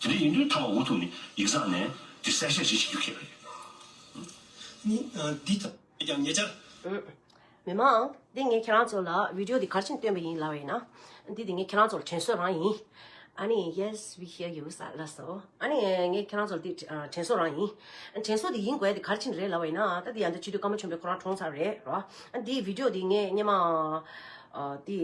དེ་ནས་ཡིན་དུས་ཐ་མ་འུ་ཐུག་ནས་ཡིག་ཚང་ནས་དེ་གསལ་བཤད་བྱེད་ཤེས་རྒྱུ་ཁེགས་པ་རེད། འོན་ཀྱང་ཉེ་ཆར། མི་མང། འདི་ངས་ཁྱེད་རང་ཚོ་ལ Video འདི་གར་ཕྱིན་སྟོན་པ་ཡིན་ལབ་བས་ན། འདི་དེ་ངས་ཁྱེད་རང་ཚོ་ལ་དྲན་གསོ་རང་ཡིན། ཨ་ནི Yes we hear you ས་ལ་སོ། ཨ་ནི་ངས་ཁྱེད་རང་ཚོ་ལ་འདི་དྲན་གསོ་རང་ཡིན། དྲན་གསོ་དེ་ཡིན་དགོས་དེ་གར་ཕྱིན་རེད་ལབ་བས་ན་ད་འདི་ཡང་འདི་བྱེད་དུས་སྐར་མ་ཆུང་པའི་ཁོ་རང་གྲོངས་ཚར་རེད་རོ། འདི Video འདི་ངས་སྙེ་མ། འདི་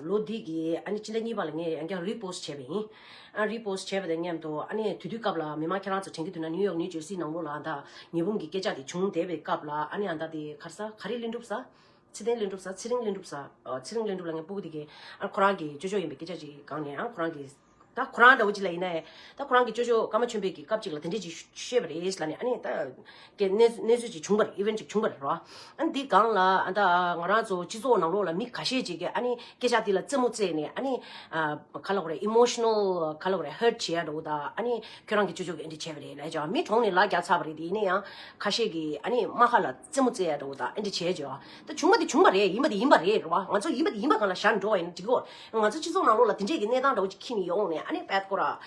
ལོ་འདི་གི་ཨ་ནི་སྤྱི་ཟླ་གཉིས་པ་ལ་ངས་ཡང་བསྐྱར Repost བྱས་པ་ཡིན། Repost བྱས་པ་དང་མཉམ་དུ་ཨ་ནེས་དུས་དུས་སྐབས་ལ་མི་མང་ཁྱེད་རང་ཚོ་དྲན་གྱི་འདུག་ན་ནིའུ་ཡོག་ནིའུ་ཇོར་སི་ནང་ལོགས་ལ་ཨ་མདའ་ཉི་འབུམ་གྱི་སྐད་ཆ་དེ་བྱུང་བསྡད་པའི་སྐབས་ལ་ཨ་ནེ་ཨ་མདའ་དེ་གར་ས་ག་རེ་གླེང་གྲུབ་ས། ཚེ་བརྟན་གླེང་གྲུབ་ས་ཚེ་རིང་གླེང་གྲུབ་ས། ཚེ་རིང་གླེང་གྲུབ་ལ་ངས་སྤུ་གུ་དེ་གའི་ཨ་ཁོ་རང་གི་ཅོ་ཅོ་ཡིན་པའི་སྐད་ཆ་ཅིག་གང་ནས་ཨ་ཁོ་རང་གི། ད་ཁོ་རང་ད་འུ་ཅི་ལ་ཡིན་ན་ཨེ། ད་ཁོ་རང་གི་ཅོ་ཅོ་ཀརྨ་ཆོས་འཕེལ་གྱིས་སྐབས་ཅིག་ལ་དེ་འདྲས་ཅིག་བཤད་པ་རེད་ལ་ནས་ཨ་ནེ་ད། གི་གནས་གནས་ཚུལ་ཅིག་བྱུང་པར Event ཅིག་བྱུང་པར་རོ། ཨཱ་འདི་གང་ལ་ཨ་མདའ་ཨ་ང་རང་ཚོ་སྤྱི་ཚོགས་ནང་ལོགས་ལ་མི་ག་ཤས་ཅིག་གིས་ཨཱ་ནི་སྐད་ཆ་འདི་ལ་རྩེད་མོ་རྩེས་ནས་ཨཱ་ནི་ག་ལ་གོ་རེ Emotional ག་ལ་གོ་རེ Hurt བྱེད་ཡ་འགྲོ་བོ་ད་ཨཱ་ནི་ཁྱོད་རང་གིས་ཅོ་ཅོ་གིས་ཨཱ་འདྲི་བྱས་པ་རེད་ལས་ཀྱང་མི་གྲོངས་ནས་ལག་རྒྱག་ཚར་བ་རེད་དེ་ནས་ཡང་ཁ་ཤས་ཀྱིས་ཨཱ་ནི་རྨ་ཁ་ལ་རྩེད་མོ་རྩེས་ཡ་འགྲོ་བོ་ད་ཨཱ་འདྲི་བྱས་བྱས་བ་ད་བྱུང་བ་དེ་བྱུང་བ་རེད་ཡིན་པ་དེ་ཡིན་པ་རེད་རོ་ང་ཚོ་ཡིན་པ་དེ་ཡིན་པ་གང་ལ་བཞག་འགྲོ་བ་ཡིན་ན་འགྲིག་གོ་ང་ཚོ་སྤྱི་ཚོགས་ནང་ལོགས་ལ་དེ་འདྲས་ཀྱི་གནས་སྟངས་འདྲ་བོ་ཅིག་ཁྱི་ནི་ཡོང་ནས་ཨཱ་ནི་བད་ཀོ་ར་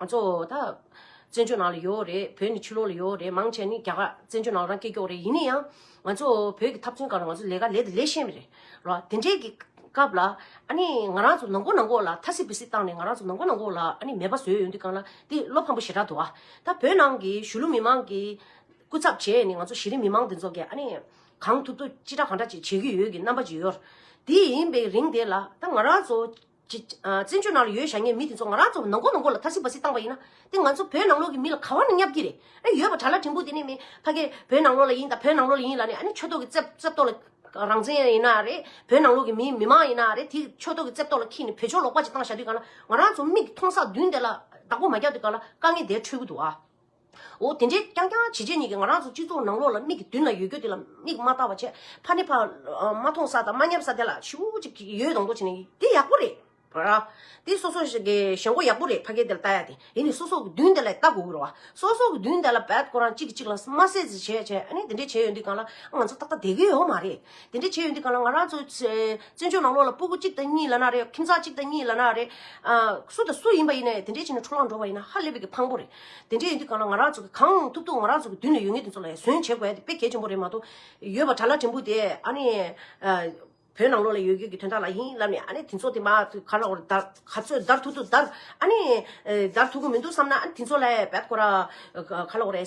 གཙོ་བོ་ད། བཙན་བྱོལ་ནང་ལ་ཡོད་རེད། བོད་ནི་ཕྱི་ལོག་ལ་ཡོད་རེད། མང་ཆེ་བ་ནི་རྒྱ་གར། བཙན་བྱོལ་ནང་རང་སྐད་ཀྱོག་རེད། ཡིན་ན་ཡང། ང་ཚོ་བོད་ཀྱི་ཐབ་ཚོན་གང་རུང་ང་ཚོ་ལས་ཀ་ལས་དེ་ལས་ཤེས་མེད་རེད། རོ། དེ་འདྲའི་གི། སྐབས་ལ། ཨ་ནི། ང་རང་ཚོ་ནང་སྒོ་ནང་སྒོ་ལ་ཐ་སི་བི་སི་བཏང་ནས་ང་རང་ཚོ་ནང་སྒོ་ནང་སྒོ་ལ་ཨ་ནི་མེད་པ་བཟོས་ཡོད་འདུག་གང་ལ། དེ་བློ་ཕམ་པོ་ཞེ་དྲག་འདུག་ཨ། ད་བོད་ནང་གི་གཞུ་ལུ་མི་མང་གི། སྐུ་ཚབ་བྱས་ནས་ང་ཚོ་གཞི་རིམ་མི་མང་དེ་ཚོ་གི་ཨ་ནི། གང་ཐུབ་ཐུབ་ཅི་དྲག་གང་དྲག་ཅིག་བྱེད་ཀྱི་ཡོད་ཀྱི་རྣམ་པ་ཅིག་ཡོད། དེ་ཡིན་པའི་རིང་དེ་ལ། ད་ང་རང་ཚོ། བཙན་བྱོལ་ནང་ལ་ཡོད་བཞག་ཉེས་མི་དེ་ཚོ་ང་རང་ཚོ་ནང་སྒོ་ནང་སྒོ་ལ་ཐ་སི་བ་སི་བཏང་བ་ཡིན་ན། དེ་ང་ཚོ་བོད་ནང་ལོག་གི་མི་ལ་ག་བ་ནས་བསྙབ་ཀྱི་རེད་ཨེ་ཡོད་པ་གྲྭ་ལ་དྲིན་པོ་དེ་ནས་མི་ཕ་གས་བོད་ནང་ལོག་ལ་ཡིན་ད་བོད་ནང་ལོག་ལ་ཡིན་ལ་ནས་ཨ་ནི་ཆོས་ཐོག་གི་རྩེ་རྩེ་བཏོག་ལ་རང་བཙན་ཡིན་ན་རེད་བོད་ནང་ལོག་གི་མི་མི་མང་ཡིན་ན་རེད་དེ་ཆོས་ཐོག་གི་རྩེ་བཏོག་ལ་ཁྱེད་ནས་བོད་ཆོས་ལོག་པ་ཅིག་བཏང་བཞག་དུས་གང་ལ་ང་རང་ཚོ་མིག་གི་མཐོང་སག་བདུན་དེ་ལ་བདག་པོ་མ་རྒྱག་དུས་གང་ལ་དཀའ་ངལ་དེ་འཕྲོད་གི་འདུག་ཨ། འོ་དེ་འདྲས་རྐྱང་རྐྱང་བྱེད་བྱེད་གཉིས་ཀྱི་ང་རང་ཚོ་སྤྱི་ཚོགས་ནང་ལོགས་ལ་མིག་གི་མདུན་ལ་ཡོད་རྒྱུ་དེ་ལ་མིག་མ་བལྟ་བ་ཆད་ཕ་ནི་ཕ། མ་མཐོང་ས་དང་མ་ཉམས་ས་དེ་ལ་ཆུ་བོ་གཅིག་ཡོད་དང་མདོག་བྱེད་ནི་དེ་ཡག་པོ་རེད། དེ་སོ་སོ་ཞེན་མགོ་ཡག་པོ་རེད་ཕ་སྐད་དེ་ལ་བལྟ་ཡ་དེ་ཡིན་ནི་སོ་སོ་གི་མདུན་དེ་ལ་བལྟ་དགོས་ཀྱི་རེད་བ། སོ་སོ་གི་མདུན་དེ་ལ་བལྟ་དགོས་རང་གཅིག་གི་གཅིག་ལ་མ་ཟས་ཟས་བྱས་བྱས་ཨ་ནི་དེ་འདྲས་བྱས་ཡོད་འདི་གང་ལ་ང་ཚོ་ཏག་ཏག་བསྡད་ཀྱི་ཡོད་མ་རེད། དེ་འདྲས་བྱས་ཡོད་འདི་གང་ལ་ང་རང་ཚོ་བཙན་བྱོལ་ནང་ལོགས་ལ་སྤུ་གུ་གཅིག་དང་གཉིས་ལ་ན་རེ་ཁྱིམ་ཚང་གཅིག་དང་གཉིས་ལ་ན་རེ། སུ་དང་སུ་ཡིན་པ་ཡིན་ནའི་དེ་འདྲས་བྱས་ནས་འཕྲོ་བརླག་འགྲོ་བ་ཡིན་ན་ཧ་ལས་པའི་གི་ཕངས་པོ་རེད། དེ་འདྲ་ཡིན་དུས་གང་ལ་ང་རང་ཚོ་གི་གང་ཐུབ་ཐུབ་ང་རང་ཚོ་གི་མདུན་ལས་ཡོད་ངེས་དེ་ཚོ་ལ་ཡང་གཟོན་བྱེད་དགོས་ཡ་དེ་དཔེ་གལ་ཆེན་པོ་རེད་མ་གཏོགས། ཡོད་པ་གྲྭ་ལག་ཕྲན་བུ་དེ་ཨ་ནི། བོད་ནང་ལོགས་ལ་ཡོད་རྒྱུ་གི་དོན་དག་ལ་ཡིན་ལབ་ནས་ཨ་ནི་དེ་ཚོ་དེ་མ་ག་ལ་བར་དར་ག་ཚོད་བརྡར་ཐུག་ཐུག་བརྡར་ཨ་ནི། བརྡར་ཐུག་གི་མི་འདུག་བསམ་ན་ཨ་ནི་དེ་ཚོ་ལ་བེད་ཁོ་ར། ག་ལ་བ་རེད།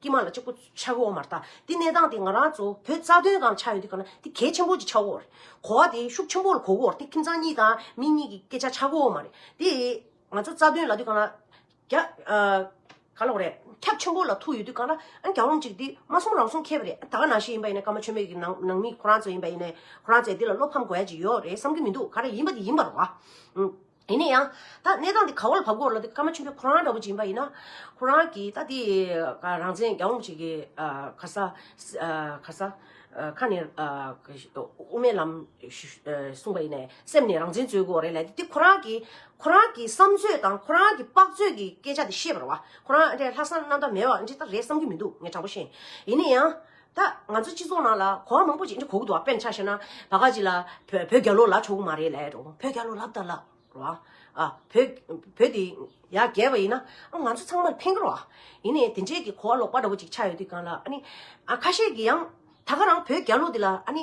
ཀྱི་མ་ལ་གཅིག་པུ་ཆགས་ཀྱི་འོག་མར་ལྟ། དེ་གནས་སྟངས་དེ་ང་རང་ཚོ་བོད་རྩ་དོན་གང་ཆགས་ཡོད་དེ་གང་ན་དེ་གལ་ཆེན་པོ་གཅིག་ཆགས་འོག་རེད། གོ་བ་དེ་ཤུགས་ཆེན་པོ་ལ་གོ་གི་འོག་དེ་ཁྱིམ་ཚང་གཉིས་དང་མི་གཉིས་ཀྱི་སྐད་ཆ་ཆགས་ཀྱི་འོག་མ་རེད། དེ་ང་ཚོ་རྩ་དོན་ལ་དུས་གང་ན། རྒྱ། ག་ལོག་རེད། ཁྱབ་ཆེན་པོ་ལ་ཐུག་ཡོད་དུས་གང་ན་ཨ་གྱ་འོང་གཅིག་དེ་མ་གསུམ་རང་སོང་ཁེལ་བ་རེད། ད་ག་ནང་ཤེས་ཡིན་པ་ཡིན་ན་ཀརྨ་ཆོས་མེད་ཀྱི་ནང་ནང་མི་ཁོ་རང་ཚོ་ཡིན་པ་ཡིན་ནས་ཁོ་རང་ཚོས་དེ་ལ་བློ་ཕམ་དགོས་ཡ་གཅིག་ཡོད་རེད་བསམ་གྱི་མི་འདུག་ག་རེ་ཡིན་པ་དེ་ཡིན་པར་རོ། དེ་ནས་ཡང་ད་གནས་སྟངས་འདི་ག་བོ་ལ་བབ་དགོས་ལ་འདི་ཀརྨ་ཆེན་པོའི་ཁོ་རང་འདྲ་བོ་ཅིག་ཡིན་པ་ཡིན་ན། ཁོ་རང་གིས་ད་འདི་རང་བཙན་རྒྱ་འོང་བྱེད་ཀྱི་ཁ་ས་ཁ་ས་ཁ་ནས་དབུ་མའི་ལམ་གསུངས་པ་ཡིན་ནས་སེམས་ནས་རང་བཙན་རྩོད་དགོས་བ་རེད་ལ་འདི་འདི་ཁོ་རང་གིས་ཁོ་རང་གི་བསམ་ཚོད་དང་ཁོ་རང་གི་དཔག་ཚོད་ཀྱི་སྐད་ཆ་འདི་བཤད་པར་བ་ཁོ་རང་ཨ་འདྲས་ལྷག་བསམ་རྣམ་དག་མེད་བ་འདྲས་ད་རེད་བསམ་གྱི་མི་འདུག་ངས་དྲང་པོ་བཤད་ཡིན་ནས་ཡང། ད་ང་ཚོ་སྤྱི་ཚོགས་ནང་ལ་གོ་བ་མང་པོ་ཅིག་འདྲི་གོ་གི་འདུག་དཔེར་ན་ཆ་ཤས་ན་བ་ག་ཅིག་ལ་བོད་བོད་རྒྱ་ལོ་ལ་ཆོག་གི་མ་རེད་ལ་ཡ་རོ་བོད་རྒྱ་ལོ་ལབ་ད་ལ་རོ་ཨ། བོད་བོད་དེ་ཡ་རྒྱལ་བ་ཡིན་ན་ཨ་ང་ཚོ་ཚང་མར་ཕན་གི་རོ་ཨ། ཡིན་ནས་དེ་འདྲའི་གི་གོ་བ་ལོག་པ་འདྲ་བོ་ཅིག་ཆགས་ཡོད་དུས་གང་ལ་ཨ་ནི་ཨ་ཁ་ཤས་ཀྱི་ཡང་ད་ག་རང་བོད་རྒྱ་ལོ་དེ་ལ་ཨ་ནི་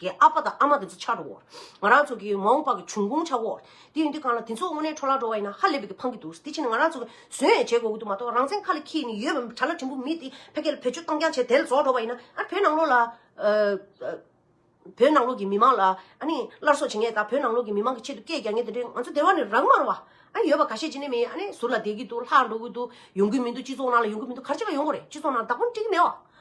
ཀྱི་ཨ་ཕ་དང་ཨ་མ་དེ་ཚོ་ཆགས་འགྲོ་འོ། ང་རང་ཚོ་གི་མ་འོངས་པ་གི་འབྱུང་ཁུངས་ཆགས་འོ། དེ་ཡིན་དུས་གང་ལ་དེ་ཚོ་དངོས་གནས་འཕྲོ་བརླག་འགྲོ་བ་ཡིན་ན་ཧ་ལས་པའི་གི་ཕངས་ཀྱི་འདུག་དེ་ཕྱིན་ནས་ང་རང་ཚོ་གི་ཟོན་ཡས་བྱེད་དགོས་གི་འདུག་མ་གཏོགས་རང་བཙན་ཁ་ལ་འཁྱིལ་ནས་ཡོད་པའི་གྲྭ་ལ་དྲིན་པོ་མི་དེ་ཕལ་སྐད་ལ་བེད་སྤྱོད་གཏང་རྐྱང་བྱས་དེ་ལ་རྫོགས་འགྲོ་བ་ཡིན་ན་ཨ་ར་བོད་ནང་ལོགས་ལ། བོད་ནང་ལོགས་ཀྱི་མི་མང་ལ་ཨ་ནི་སླར་གསོ་བྱེད་ངེས་དང་བོད་ནང་ལོགས་ཀྱི་མི་མང་གི་ཆེད་དུ་སྐད་རྒྱག་ངེས་དེ་འདྲའི་ང་ཚོ་སྡེ་བ་ནི་རང་མར་བ་ཨ་ཡོད་པ་ག་ཤེད་ཅི་ནས་མི་ཨ་ནི་ཟུར་ལ་བསྡད་གི་འདུག་ལྷག་འགྲོ་གི་འདུག་ཡོང་གི་མི་འདུག་སྤྱི་ཚོགས་ནང་ལ་ཡོང་གི་མི་འདུག་གར་བྱེད་པ་ཡོང་གི་རེད་སྤྱི་ཚོགས་ནང་བདག་པོ་འགྲིག་གི་མེད་བ།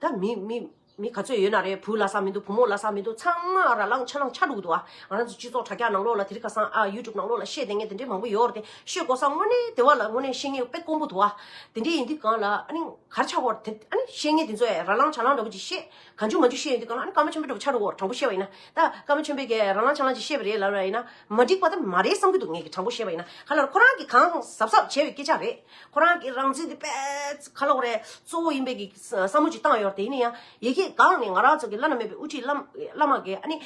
ད་མི་མི་མི་ག་ཚོད་ཡོད་ན་རེད་བུ་ལ་ས་མི་འདུག་བུ་མོ་ལ་ས་མི་འདུག་ཚང་མ་ར་ལང་ཆ་ལང་ཆ་ལུག་འདུག་ཨ་ང་རང་ཚོ་སྤྱི་ཚོགས་དྲ་རྒྱ་ནང་ལོགས་ལ་དེ་རིགས་ཁ་སང་ཨ YouTube ནང་ལོགས་ལ་ཤེས་དེ་ངས་དེ་འདྲའི་མང་པོ་ཡོད་རེད་དེ་ཤོད་དགོ་ས་དངོས་གནས་དེ་བ་ལ་དངོས་གནས་ཤེས་ངེས་དཔེ་དཀོན་པོ་འདུག་ཨ་དེ་འདྲའི་ཡིན་དུས་གང་ལ་ཨ་ནི་གར་ཆག་བོར་དེ་ཨ་ནི་ཤེས་ངེས་དེ་ཚོ་ཨེ་ར་ལང་ཆ་ལང་འདྲ་པོ་ཅིག་ཤེས་གང་ཆུང་མང་ཆུང་ཤེས་ཡོད་དུས་གང་ལ་ཨ་ནི་ཀརྨ་ཆེན་པོའི་འདྲ་པོ་ཆག་ལུག་བོར་དྲང་པོ་ཤེས་པ་ཡིན་ན་ད་ཀརྨ་ཆེན་པོས་ཀྱི་ར་ལང་ཆ་ལང་ཅིག་ཤེས་པ་རེད་ལབ་ན་ཨེ་ན་མ་འགྲིག་པ་ད་མ་རེད་བསམ་གྱི་འདུག་ངས་ཀྱི་དྲང་པོ་ཤེས་པ་ཡིན་ན་ག་ལ་ཁོ་རང་གི་གང་ཟབ་ཟབ་བྱས་པའི་སྐད་ཆ་རེད། ཁོ་རང་གི་རང་བཙན་དེ་པས་ཁ་ལོག་རེད། གཙོ་བོ་ཡིན་པའི་གི་བསམ་བློ་ཅིག་བཏང་ཡོད་རེད། དེ་ནས་ཡང་ཡེ་ཤེས་སྒང་ནས་ང་རང་ཚོ་གི་བླ་ན་མེད་པའི་དབུ་ཁྲིད་བླ་བླ་མ་འགས་ཨ་ནི།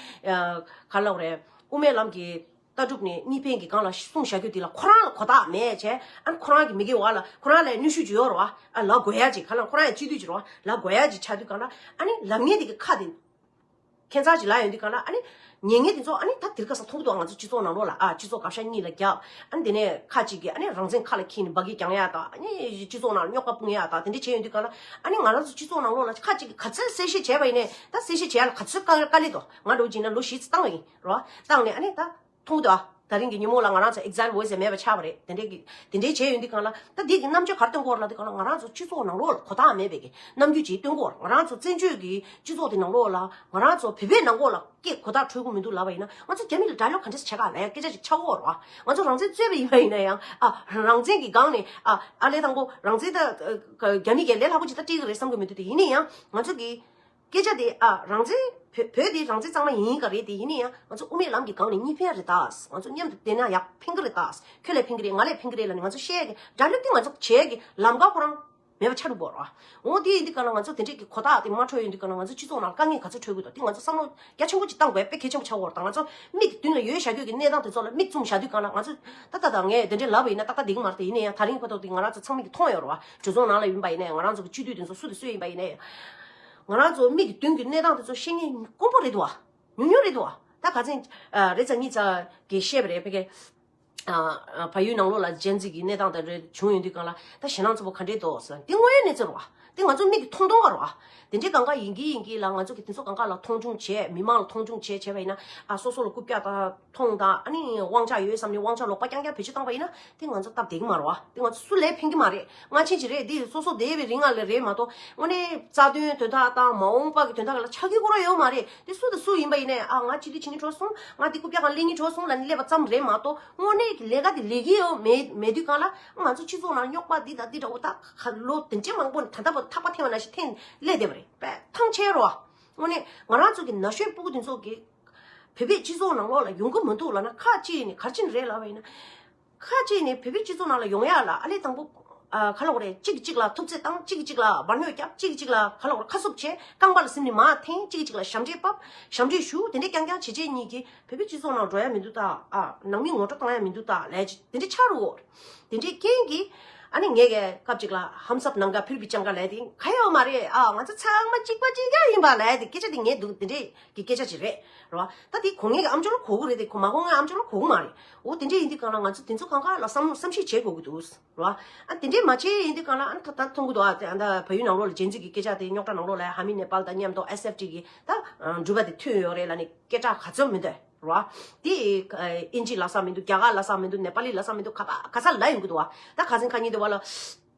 ཁ་ལོག་རེད། དབུ་མའི་ལམ་གྱི་ལྟ་གྲུབ་ནི་གཉིས་ཕན་གྱི་སྒང་ལ་གསུངས་བཞག་རྒྱུ་དེ་ལ་ཁོ་རང་ལ་གོ་རྟགས་མེད་ཆེ། ཨ་ནི་ཁོ་རང་གི་མི་དགེ་བ་ལ་ཁོ་རང་ལ་ཡང་གནོད་ཤུགས་ཅིག་ཡོད་རེད་བ། ཨ་ལ་དགོས་ཡ་ཅིག་ཁ་ལ་ཁོ་རང་ཡང་སྤྱི་འཐུས་ཀྱི་རེད་བ། ལ་དགོས་ཡ་ཅིག་ཆགས་དུས་གང་ལ། ཨ་ནི་ལམ་ངན་དེ་གི་ཁ་དེ། ཁྱད་མཚར་ཅིག་ལ་ཡོད་འདི་ག་ལ་ཨ་ནི། ཉེས་ངན་དེ་ཚོ་ཨ་ནི་ད་དིར་ཁ་ས་ཐོར་བུ་འདུག་ཨ་ང་ཚོ་སྤྱི་ཚོགས་ནང་ལོག་ལ་ཨ་སྤྱི་ཚོགས་དགའ་ཤ་གཉིས་ལ་རྒྱག་ཨ་དེ་ནས་ཁ་ཅིག་གིས་ཨ་ནི་རང་བཙན་ཁ་ལ་འཁྱིལ་ནས་འབའ་གིས་བརྒྱང་ཡ་དང་ཨ་ནི་སྤྱི་ཚོགས་ནང་རྙོག་པ་སྤུངས་ཡ་དང་དེ་འདྲས་བྱས་ཡོད་འདི་ག་ལ་ཨ་ནི་ང་རང་ཚོ་སྤྱི་ཚོགས་ནང་ལོག་ལ་ཁ་ཅིག་གིས་ག་ཚོད་གསལ་བཤད་བྱས་པ་ཡིན་ནས་ད་གསལ་བཤད་བྱས་ཡ་ལ་ག་ཚོད་དཀའ་ལས་དོ་ང་འགྲོ་བགྱིས་ན་ལོ་བཞི་ཚོད་བཏང་བ་ཡིན་རོ་བཏང་ནས་ཨ་ནི་ད། མཐོང་ཐོས་ཨ། ད་རིང་གི་ཉིན་མོ་ལ་ང་རང་ཚོ exam འོད་ཟེར་མེད་པ་ཆགས་པ་རེད། དེ་འདྲའི་གི། དེ་འདྲའི་བྱས་ཡོད་འདི་གང་ལ། ད་འདས་ཀྱི་རྣམ་དཔྱོད་གར་སྟོན་སྐོར་ལ་འདི་གང་ལ་ང་རང་ཚོ་སྤྱི་ཚོགས་ནང་ལོགས་ལ་གོ་ཐག་མེད་པའི་གི། རྣམ་འགྱུར་གྱིས་སྟོན་སྐོར་ང་རང་ཚོ་བཙན་བྱོལ་གྱི་སྤྱི་ཚོགས་དེ་ནང་ལོགས་ལ། ང་རང་ཚོ་བོད་པའི་ནང་འགོག་ལ་སྐད་གོ་ཐག་འཕྲོད་ཁུ་མི་འདུག་ལབ་པ་ཡིན་ན་ང་ཚོ་རྒྱ་མི་ལ་དགྲ་སློབ་ག་འདྲས་བྱས་ག་ལ་ཡང་སྐད་ཆ་ཞིག་ཆགས་སྐོར་རོ་ཨ། ང་ཚོ་རང་བཙན་རྩོད་པའི་ཡིན་པ་ཡིན་ན་ཡང་ཨ། རང་བཙན་གྱི་སྒང་ནས་ཨ། ཨ་ལས་དང་པོ་རང་བཙན་ད། རྒྱ་མི་གས་ལས་སླ་པོ་ཅིག་ད་སྤྲད་གི་རེད་བསམ་གི་མི་འདུག་དེ་ཡིན་ན་ཡང་ང་ཚོ་གི། སྐད་ཆ་དེ་ཨ་རང་བཙན། བོད་བོད་དེ་རང་བཙན་གཙང་མ་ཡིན་ག་རེད་དེ་ཡིན་ན་ཡང་ང་ཚོ་དབུ་མའི་ལམ་གྱི་སྒང་ནས་གཉིས་ཕན་རེད་ད། ང་ཚོ་མཉམ་དུ་བསྡད་ན་ཡག་ཕན་གི་རེད་ད། ཁྱོད་ལས་ཕན་གི་རེད་ང་ལས་ཕན་གི་རེད་ལ་ནི་ང་ཚོ་བཤད་གི་འདྲ་སླེབས་དུས་ང་ཚོ་བྱེད་གི་ལམ་ཀ་ཁོ་རང་མེད་པ་ཆགས་འགྲོ་དགོས་རོ། འོ་དེ་ཡིན་དུས་ག་ལ་ང་ཚོ་དེ་འདྲས་ཀྱི་གོ་རྟགས་དེ་མ་འཕྲོད་ཡོད་དུས་ག་ལ་ང་ཚོ་སྤྱི་ཚོགས་ནང་དཀའ་ངལ་ག་ཚོད་འཕྲོད་དགོས་དོ་དེ་ང་ཚོ་བསམ་བློ་རྒྱ་ཆེན་པོ་ཅིག་བཏང་དགོས་དཔེ་གལ་ཆེན་པོ་ཆགས་འོར་ད་ང་ཚོ་མིག་གི་མདུན་ལ་ཡོད་བཞག་ཁྱོད་ཀྱི་གནས་སྟངས་དེ་ཚོ་ལ་མིག་བཙུམ་བཞག་དུས་ག་ལ་ང་ཚོ་ད་ད་ད་ངས་དེ་འདྲས་ལབ་པ་ཡིན་ན་ཏག་ཏག་འདེགས་མ་རེད་དེ་ཡིན་ན་ཡང་ད་རིང་ཁོ་ཐོག་དེ་ང་རང་ཚོ་ཚང་མིག་གི་མཐོང་ཡོད་རོ། གྲོས་ཚོགས་ནང་ལ་ཡིན་པ་ཡིན་ནའི་ང་རང་ཚོ་གི་སྤྱི་འཐུས་དེ་ཚོ་སུ་དང་སུ་ཡིན་པ་ཡིན་ནའི། ང་རང་ཚོ་མིག་གི་མདུན་གྱི་གནས་སྟངས་དེ་ཚོ་ཤེས་ངེས་དཀོན་པོ་རེད་དོ། ཉུང་ཉུང་རེད་དོ། ད་ག་ཚེ། རེ་ཚ་གཉིས་ཚ་གི་བཤད་པ་རེད་ཕེ་ཁེ། བ་ཡུལ་ནང་ལོགས་ལ་ཇན་ཛི་གི་གནས་སྟངས་དང་རེད་བྱུང་ཡོད་དུས་གང་ལ་ད་ཞེ་ནང་ཚོ་པོ་ག་འདྲེ་དོ་ཟེར། དེ་དངོས་ཡོད་གནས་ཚུལ་རོ། དེ་ང་ཚོ་མིག་གི་མཐོང་མཐོང་བ་རོ། དེ་འདྲེ་གང་ག་ཡིན་གྱི་ཡིན་གྱི་ལ་ང་ཚོ་གི་དེ་ཚོ་གང་ག་ལ་མཐོང་ཆུང་བྱས་མི་མང་ལ་མཐོང་ཆུང་བྱས་བྱས་པ་ཡིན་ན། ཨ་སོ་སོ་ལ་རྐུབ་བཀྱག་དང། ཐོང་ད་ཨ་ནི་དབང་ཆ་ཡོད་བསམ་ནི་དབང་ཆ་ལོག་པ་རྐྱང་རྐྱང་བེད་སྤྱོད་བཏང་བ་ཡིན་ན་དེ་ང་ཚོ་སྟབས་བདེ་གི་མ་རོ་ཨ་དེ་ང་ཚོ་སུ་ལས་ཕན་གི་མ་རེད་སྔ་ཕྱི་ཅི་རེད་འདི་སོ་སོ་སྡེ་བའི་རིགས་ང་ལ་རེད་མ་གཏོགས་དངོས་གནས་རྩ་དོན་དོན་དག་དང་མ་འོངས་པ་གི་དོན་དག་ལ་ཆ་ཁེ་གོ་ར་ཡོད་མ་རེད་དེ་སུ་དང་སུ་ཡིན་པ་ཡིན་ནས་ཨ་ང་ཅི་དེ་ཇི་ནི་བྲོ་སོང་ང་དེ་ཀུ་པྱ་གང་ལེ་ནི་བྲོ་སོང་ལ་ནི་སླེབས་པ་ཙམ་རེད་མ་གཏོགས་དངོས་གནས་ཀྱི་ལས་ཀ་དེ་ལས་ཀྱི་ཡོད་མེད་མེད་དུས་གང་ལ་ང་ཚོ་སྤྱི་ཚོགས་ནང་རྙོག་པ་འདི་དང་འདི་འདྲ་བོ་དག་ག་ལོ་དེ་འདྲའི་མང་པོ་ནས་ད་ལྟ་བ་ཐག་པ་འཐེན་བ་ན་ཞིག་འཐེན་སླེ་བསྡད་པ་རེད་པས་ཐང་ཆད་རོགས་ཨ་དངོས་གནས་ང་རང་ཚོ་གི་ན་གཞོན་སྤུ་གུ་འདི་ཚོ་གི། བོད་པའི་སྤྱི་ཚོགས་ནང་ལོགས་ལ་ཡོང་གི་མི་འདུག་ལ་ན་ཁ་ཅིག་ནི་གར་ཕྱིན་རེད་ལབ་བས་ན། ཁ་ཅིག་ནི་བོད་པའི་སྤྱི་ཚོགས་ནང་ལ་ཡོང་ཡ་ལ་ཨ་ལས་དང་པོ། ཁ་ལོག་རེད་གཅིག་གིས་གཅིག་ལ་ཐུབ་ཚད་བཏང་གཅིག་གིས་གཅིག་ལ་སྦར་སྣོད་བརྒྱབ་གཅིག་གིས་གཅིག་ལ་ཁ་ལོག་ར་ཁ་གསུབ་བྱས་རྐང་པ་ལ་སིམ་ནི་མ་འཐེན་གཅིག་གིས་གཅིག་ལ་ཞབས་འདྲེན་བབ་ཞབས་འདྲེན་ཞུ་དེ་འདྲས་རྐྱང་རྐྱང་བྱེད་བྱེད་གཉིས་ཀྱིས་བོད་པའི་སྤྱི་ཚོགས་ནང་འགྲོ་ཡ་མི་འདུག་ད་ཨ་ནང་མི་ངོ་སྤྲོད་བཏང་ཡ་མི་འདུག་ད་ལས་ཀྱི་དེ་འདྲས་ཆགས་རུ་དེ་འདྲས་རྐྱེན་གྱིས་ཨ་ནི་ངས་སྐབས་ཅིག་ལ་ཧམ་སབ་ནང་ག་ཕིར་བི་ཅང་ག་ལས་དེ་ག་ཡོད་མ་རེད་ཨ་ང་ཚོ་ཚང་མ་གཅིག་པ་གཅིག་རྒྱ་ཡིན་པ་ལས་དེ་སྐད་ཆ་དེ་ངས་འདུག་དེ་འདྲས་གི་སྐད་ཆ་ཅིག་རེད། རེད་བ། ད་དེ་གོ་ངེས་ཀྱི་ཨམ་ཅོག་ལ་གོ་གི་རེད་དེ་མ་གོ་ངེས་ཨམ་ཅོག་ལ་གོ་གི་མ་རེད། འོ་དེ་འདྲས་ཡིན་དུས་གང་ལ་ང་ཚོ་དེ་ཚོ་གང་ག་ལ་བསམ་བསམ་ཤེས་བྱེད་དགོས་ཀྱི་འདུག། རེད་བ། ཨ་དེ་འདྲས་མ་བྱས་ཡིན་དུས་གང་ལ་ཨ་ད་མཐོང་གི་འདུག་ཨ་ད་བལ་ཡུལ་ནང་ལོགས་ལ་ཇེན་ཛི་གི་སྐད་ཆ་དེ་རྙོག་དྲ་ནང་ལོགས་ལ་ཧ་མི་ནེ་པཱལ་དང་མཉམ་དོ་ཨེ་སེབ་ཀྲི་གི་ད་འགྲུལ་པ་དེ་མཐུན་ཡོད་རེད་ལ་ནི་སྐད་ཆ་ག་ཚོད་མི་འདུག་རེད་བ། དེ་ཨིན་ཇི་ལ་བསམ་མི་འདུག་རྒྱ་གར་ལ་བསམ་མི་འདུག་ནེ་པཱ་ལི་ལ་བསམ་མི་འདུག་ག་ས་ག་ས་ལ་ཡོང་གི་འདུག་བ། ད་ག་ཟིན་ག་ཉིན་དེ་བ་ལ།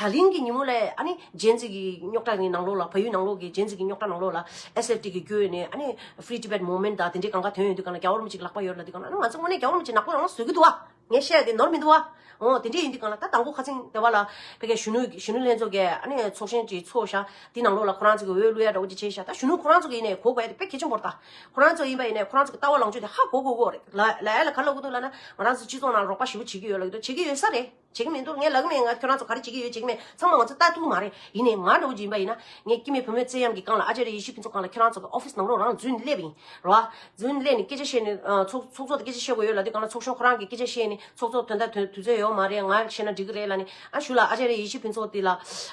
ད་རིང་གི་ཉིན་མོ་ལས་ཨ་ནི་རྗེས་འཛིན་གྱི་རྙོག་དྲ་ནི་ནང་ལོགས་ལ་ཕ་ཡུལ་ནང་ལོགས་ཀྱི་རྗེས་འཛིན་གྱི་རྙོག་དྲ་ནང་ལོགས་ལ SFT གི་བསྐྱོད་ནས་ཨ་ནི Free Tibet Movement དང་དེ་འདྲའི་གང་ག་དོན་ཡོད་དུས་གང་ལ་རྒྱ་བོར་མི་ཅིག་ལག་པ་ཡོད་ལ་དུས་གང་ལ་ཨ་ནི་ང་ཚོ་དངོས་གནས་རྒྱ་བོར་མི་ཅིག་ནག་པོ་རང་ལ་བཟོས་ཀྱི་འདུག་བ། ངས་བཤད་དེ་ནོར་མི་འདུག་བ། འོ་དེ་འདྲས་ཡིན་དུས་གང་ལ་ད་དང་པོ་ཁ་ཚིང་སྡེ་བ་ལ་ཕེབས་མཁན་གཞོན་ནུ་གཞོན་ནུ་ལྷན་ཚོགས་ཀྱི་ཨ་ནི་ཚོགས་ཆེན་གྱི་ཚོགས་ཞག་དེའི་ནང་ལོགས་ལ་ཁོ་རང་ཚོ་གི་འོས་བླུ་ཡག་འདྲ་བོ་ཅིག་བྱས་ཞག་ད་གཞོན་ནུ་ཁོ་རང་ཚོ་གི་ཡིན་ནས་གོ་དགོས་ཡ་དེ་དཔེ་གལ་ཆེན་པོར་ད་ཁོ་རང་ཚོ་ཡིན་པ་ཡིན་ནས་ཁོ་རང་ཚོ་གི་ལྟ་བ་ལངས་ཕྱོགས་དེ་ཧ་གོ་གོ་གོ་རེད། ལ་ཨ་ལ་ག་ལ་གོ་འདུག་ལ་ན་ང་རང་ཚོ་སྤྱི་ཚོགས་ནང་རོགས་པ་ཞི་བོ་བྱེད་ཀྱི་ཡོད་ལ་ཡོད་དོ་བྱེད་ཀྱི་ཡོད་ས་རེད། བྱེད་ཀྱི་མི་འདུག་ངས་ལག་མེད་ང་ཁྱོད་རང་ཚོ་ག་རེ་བྱེད་ཀྱི་ཡོད་བྱེད་ཀྱི་མེད་ཚང་མ་ང་ཚོ་ལྟ་ཐུབ་ཀྱི་མ་རེད་ཡིན་ནའི་ང་ནོར་བུ་ཇི་ཡིན་པ་ཡིན་ན་ངས་སྐྱིད་མེད་བུ་མོའི་བརྩེ་གཡམ་གྱི་སྒང་ལ་ཨ་ཅེ་རེ་ཡེ་ཤུ་ཕུན་ཚོགས་སྒང་ལ་ཁྱོད་རང་ཚོ་གི office ནང་རོགས་རང་རྫུན་སླེབས་ཡིན་རོ་ཨ། རྫུན་སླེབས་ནས་སྐད་ཆ་བཤད་ནས་ཚོགས་ཚོགས་ཚོགས་ལ་སྐད་ཆ་བཤད་དགོས་ཡོད་ལ་དེ་གང་ལ་ཚོགས་གཞོན་ཁོ་རང་གི་སྐད་ཆ་བཤད་ནས་ཚོགས་ཚོགས་དོན་དག་དོན་དུས་ཚོད་ཡོད་མ་རེད་ང་བཤད་ན་འགྲིག་གི་རེད་ལ་ནི་ཨ་ཞུ་ལགས་ཨ་ཅེ་རེ་ཡེ་ཤུ་ཕུན་ཚོགས་དེ་ལ་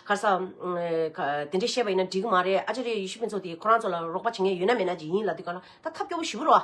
གར་ས་དེ་འདྲས་བཤད་པ་ཡིན་ན་འགྲིག་གི་མ་རེད་ཨ་ཅེ་རེ་ཡེ་ཤུ་ཕུན་ཚོགས་དེ་ཁོ་རང་ཚོ་ལ་རོགས་པ་བྱེད་མཁན་ཡོད་ན་མེད་ན་ཇི་ཡིན་ལ་དེ་གང་ལ་ད་ཐབས་སྐྱོ་པོ་ཞུ་གི་རོ་ཨ།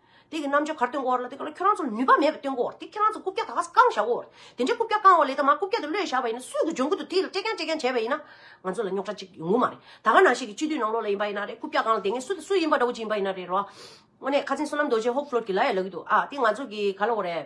དེ་གི་རྣམ་འབྱོར་གར་སྟོན་གོ། དེ་ག་ལ་ཁྱོད་རང་ཚོ་ནུས་པ་མེད་པ་སྟོན་གོ། དེ་ཁྱོད་རང་ཚོ་རྐུབ་བཀྱག་ད་ག་ས་བཀང་བཞག་གོ། དེ་འདྲའི་རྐུབ་བཀྱག་བཀང་བ་ལས་ད་མར་རྐུབ་བཀྱག་དེ་བློས་བཞག་པ་ཡིན་ན་སུས་ཀྱི་ལྗོངས་ཁུལ་དུ་དེ་ལ་སྤྲད་མཁན་སྤྲད་མཁན་བྱས་པ་ཡིན་ན། ང་ཚོ་ལ་རྙོག་དྲ་གཅིག་ཡོང་གི་མ་རེད། ད་ག་ནང་ཤེས་ཀྱི་སྤྱི་འཐུས་ནང་ལོག་ལ་ཡིན་པ་ཡིན་ན་རེད་རྐུབ་བཀྱག་བཀང་ལ་དེ་ངས་སུ་སུ་ཡིན་པ་འདྲ་བོ་ཅིག་ཡིན་པ་ཡིན་ན་རེད་རོ། དངོས་གནས་ཁ་ཚིན་བསོད་ནམས་རྡོ་རྗེ་ཧོབ་ཕྲོལ་གྱི་ལ་ཡ་ལག་གི་འདུག་ཨ་དེ་ང་ཚོ་གི་ག་ལ་འོ་རེད།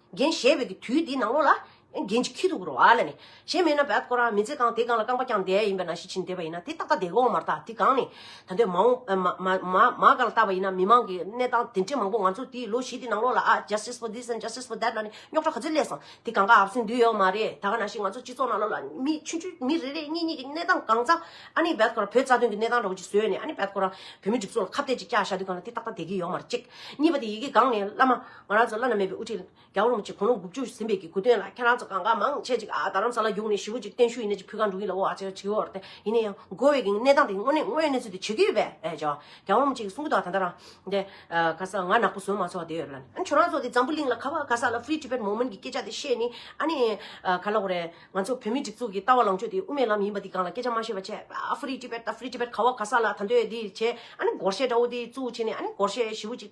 རྒན་གཞས་བོད་ཀྱི་དུས་འདིའི་ནང་ལོགས་ལ། རྒན་གྱི་ཁྱི་དུག་རོ་ཨ་ལ་ནི། གཞས་མེད་ན་བད་ཀོ་ར་མི་མཛེས་གང་དེ་གང་ལ་རྐང་པ་རྐྱང་བསྡད་ཡིན་པས་ན་གཞི་བྱིན་བསྡད་པ་ཡིན་ན་དེ་ཏག་ཏག་བསྡད་གོ་མ་རྟག་དེ་གང་ནི། ད་ལྟའི་མ་འོངས་མ་ག་ལ་བལྟ་བ་ཡིན་ན་མི་མང་གི་གནས་སྟངས་དེ་འདྲས་མང་པོ་ང་ཚོ་དེའི་ལོ་བཞི་དེའི་ནང་ལོགས་ལ་ཨ justice for this and justice for that ལ་ནི་རྙོག་གྲ་ག་ཚོད་སླེབས་སོང་དེ་གང་ག་ཨ་བསུན་འདུས་ཡོད་མ་རེད་ད་ག་ན་ཞིག་ང་ཚོ་སྤྱི་ཚོགས་ནང་ལོགས་ལ་མི་ཆུང་ཆུང་མི་རེ་རེ་གཉིས་གཉིས་ཀྱི་གནས་སྟངས་གང་ཙམ་ཨ་ནི་བད་ཀོ་ར་བོད་རྩ་དོན་གྱི་གནས་སྟངས་འདྲ་བོ་ཅིག་བཟོས་ནས་ཨ་ནི་བད་ཀོ་ར་བོད་མི་སྒྲིག་འཛུགས་ལ་ཁ་གཏད་ཅིག་བཀྱག་བཞག་དེ་གང་ལ་དེ་ཏག་ཏག་བསྡད་ཀྱི་ཡོད་མ་རེད་གཅིག་གཉིས་པ་དེ་ཡི་གེ་གང་ནས་བླ་མ། ང་རང་ཚོ་བླ་ན་མེད་པའི་དབུ་ཁྲིད་རྒྱ་བོར་མོ་ཆེ་གོང་ལོ་དགུ་བཅུ་ཟིན་པའི་གི་གུ་དོན་ལ་ཁྱེད་རང་ཚོ་གང་དགའ་མང་ཆེ་ཅིག་རྡ་རམ་ས་ལ་རྒྱུགས་ནས་ཞི་བོ་ཅིག་བརྟན་བཞུགས་ཡིན་ན་ཅིག་ཕུད་གང་འགྲོ་གི་ལ་བོ་ཨ་ཅེ་ཆི་ཧོར་ཏེ་ཡིན་ན་ཡང་དགོས་བའི་གི་གནས་སྟངས་དེ་དངོས་གནས་དངོས་གནས་ཚུལ་དེ་བྱེད་ཀི་ཡོད་པས་ཨེ་ཅོ། རྒྱ་བོར་མོ་ཆེ་གི་གསུང་གི་ཐོག་ད་ལྟ་རང་དེ། ག་ས་ང་ནག་པོ་ཟུར་མང་ཚོགས་དེ་ཡོད་རེད་ལ། ཁྱོད་རང་ཚོ་དེ་འཛམ་བུ་གླིང་ལ་ག་བ་ག་ས་ལ Free Tibet Movement གི་སྐད་ཆ་དེ་བཤད་ནི་ཨ་ནི། ག་ལ་བོ་རེད། ང་ཚོ་བོད་མིའི་སྒྲིག་འཛུགས་གི་ལྟ་བ་ལང་ཕྱོད་དེ་དབུ་མའི་ལམ་ཡིན་པ་འདི་གང་ལ་སྐད་ཆ་མ་བཤད་པ་བྱས་ཨ Free Tibet ད Free Tibet ག་བ་ག་ས་ལ་ད་འདོད་འདི་བྱས་ཨ་ནི་སྒོར་གཞས་འདྲ་བོ་དེ་བཙུགས་བྱས་ནི་ཨ་ནི་སྒོར་གཞས་ཞི་བོ་ཅིག།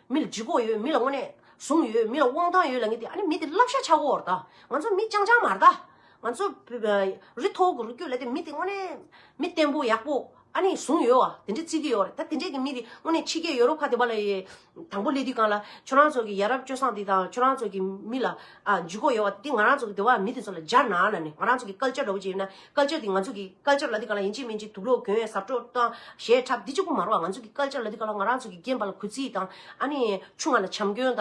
མི་ལ་སྦྱི་གོག་ཡོད་མི་ལ་དངོས་གནས་བཟུང་ཡོད་མི་ལ་དབང་ཐང་ཡོད་ལ་ངེས་ཏེ་ཨ་ནི་མི་དེ་བསླབ་བྱ་ཆག་གོ་ར་དང་ང་ཚོ་མི་ཅང་ཅང་མ་ར་ད་ང་ཚོ་རི་མཐོ་གུ་རུ་བསྐྱོད་ལ་དེ་མི་དེ་དངོས་གནས་མི་བརྟན་པོ་ཡག་པོ་ཨ་ནི་བཟུང་ཡོད་བ་དེ་འདྲས་བརྩི་གི་ཡོད་རེད་ད་དེ་འདྲས་ཀྱི་མི་དེ་དངོས་གནས་ཕྱི་རྒྱལ་ཡོ་རོབ་ཁ་དེ་པ་ལ་ཡི་དང་པོ་སླེབས་དུས་གང་ལ་ཁྱོད་རང་ཚོ་གི་ཡ་རབས་སྤྱོད་བཟང་དེ་དང་ཁྱོད་རང་ཚོ་གི་མི་ལ། འཇུག་གོ་ཡོད་བ་དེ་ང་རང་ཚོ་གི་དེ་བ་མི་དེ་ཚོ་ལ་སྦྱར་ན་ལ་ནི་ང་རང་ཚོ་གི Culture འདྲ་བོ་ཅིག་ཡོད་ན Culture དེ་ང་ཚོ་གི Culture ལ་དེ་ག་ལ་ཡིན་གཅིག་མིན་གཅིག་དུག་ལོག་གྱོན་ཟབ་སྤྲོ་དང་གཞས་འཁྲབ་འདི་གཅིག་པུ་མ་རོ་བ་ང་ཚོ་གི Culture ལ་དེ་ག་ལ་ང་རང་ཚོ་གི་རྒན་པ་ལ་གུས་བརྩི་དང་ཨ་ནི་ཆུང་བ་ལ་བྱམས་སྐྱོན་དང་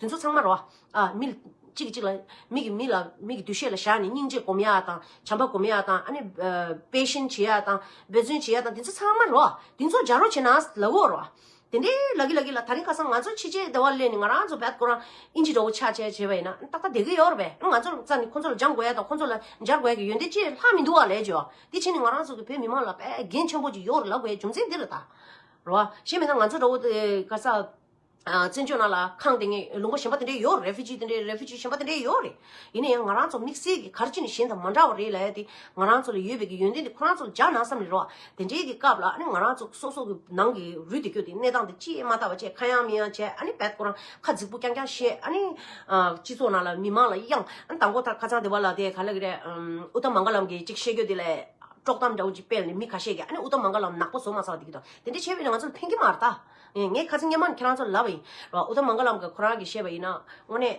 དེ་ཚོ་ཚང་མ་རོ་བ་མི་གཅིག་གི་གཅིག་ལ་མིག་གི་མི་ལ་མིག་གི་འདུ་ཤེས་ལ་བཞག་ནས་སྙིང་རྗེ་སྒོམ་ཡ་དང་བྱམས་པ་སྒོམ་ཡ་དང་ཨ་ནི་དཔེ་ཞེན་བྱེད་ཡ་དང་འབད་བརྩོན་བྱེད་ཡ་དང་དེ་ཚོ་ཚང་མ་རོ་བ་དེ་ཚོ་སྦྱར་རོ་བྱེད་ན་ལ་འོས་རོ་བ། དེ་འདྲའི་ལག་གི་ལག་གི་ལ་ད་རིང་ཁ་སང་ང་ཚོ་ཕྱི་རྒྱལ་སྡེ་བ་གླས་ནས་ང་རང་ཚོ་བལ་ཁོ་རང་ཨིན་ཇི་འདྲ་བོ་ཆགས་བྱས་བྱས་པ་ཡིན་ན་ཏག་ཏག་བསྡད་ཀྱི་ཡོད་རེད་པས་ང་ཚོར་རྩ་ནས་ཁོ་ཚོ་ལ་སྦྱང་དགོས་ཡ་དང་ཁོ་ཚོ་ལ་སྦྱར་དགོས་ཡ་གི་ཡོན་ཏན་ཅི་ལྷག་མི་འདུག་བ་ལས་ཀྱོ་དེ་བྱས་ནས་ང་རང་ཚོ་གི་བོད་མི་མང་ལ་བལ་རྒན་ཆེན་པོ་ཅིག་ཡོ་རུ་ལབ་དགོས་ཡ་རྒྱུ་མཚན་འདི་རུ་ད་རོ་བ་ཞེས་མེད་ན་ང་ཚོ་འདྲ་བོ་དེ་ག་ས་བཙན་བྱོལ་ནང་ལ་ཁང་དེ་ངས་ལུང་པ་གཞན་པ་དེ་འདྲའི་ཡོ་རེ་ཕི་ཇི་དེ་འདྲའི་རེ་ཕི་ཇི་གཞན་པ་དེ་འདྲའི་ཡོ་རེད་ཡིན་ན་ཡང་ང་རང་ཚོ་དམིགས་བསལ་གྱི་གར་སྤྱི་ནི་གཞན་དང་མ་འདྲ་བ་རེད་ལ་ཡ་དེ་ང་རང་ཚོ་ལ་ཡོད་པའི་གི་ཡོན་ཏན་དེ་ཁོ་རང་ཚོ་ལ་འཇགས་ན་བསམ་ནི་རོགས། དེ་འདྲའི་གི་སྐབས་ལ་ཨ་ནི་ང་རང་ཚོ་སོ་སོ་གི་ནང་གི་རུས་དེ་སྐྱོ་དེ་གནས་སྟངས་དེ་ཅི་ཡིན་མ་ལྟ་བ་བཅས་ཁ་ཡང་མིག་ཡང་བྱས་ཨ་ནི་བད་ཀོ་རང་ཁ་རྫིག་པོ་རྐྱང་རྐྱང་བཤད་ཨ་ནི། སྤྱི་ཚོགས་ནང་ལ་མི་མང་ལ་གཡང་ཨ་ནི་ད་མགོ་ཐག་ཁ་ཚང་དེ་བ་ལ་དེ་ག་ལ་གི་རེད། ཨུ་ཏམ་མངྒ་ལམ་གྱིས་ཅིག་བཤད་རྒྱུ་དེ་ལས། དཀྲོག་གཏམ་འདྲ་བོ་ཅིག་སྤེལ་ནས་མི་ཁ་ཤས་ཀྱིས་ཨ་ནི་ཨུ་ཏམ་མངྒ་ལམ་ནག་པོ་བཟོ་མ་ཚར་བ་དེ་གི་དང་དེ་འདྲ་བྱས་པས་ནི་ང་ཚོ་ལ་ཕན་གྱི་མ་རེད་ད། ངས་ཁ་ཚིག་སྙན་མང་ནི་ཁྱེད་རང་ཚོ་ལ་ལབ་པ་ཡིན་རོགས་ཨུ་ཏམ་མངྒ་ལམ་གྱིས་ཁོ་རང་གིས་བཤད་པ་ཡིན་ན་དངོས་གནས།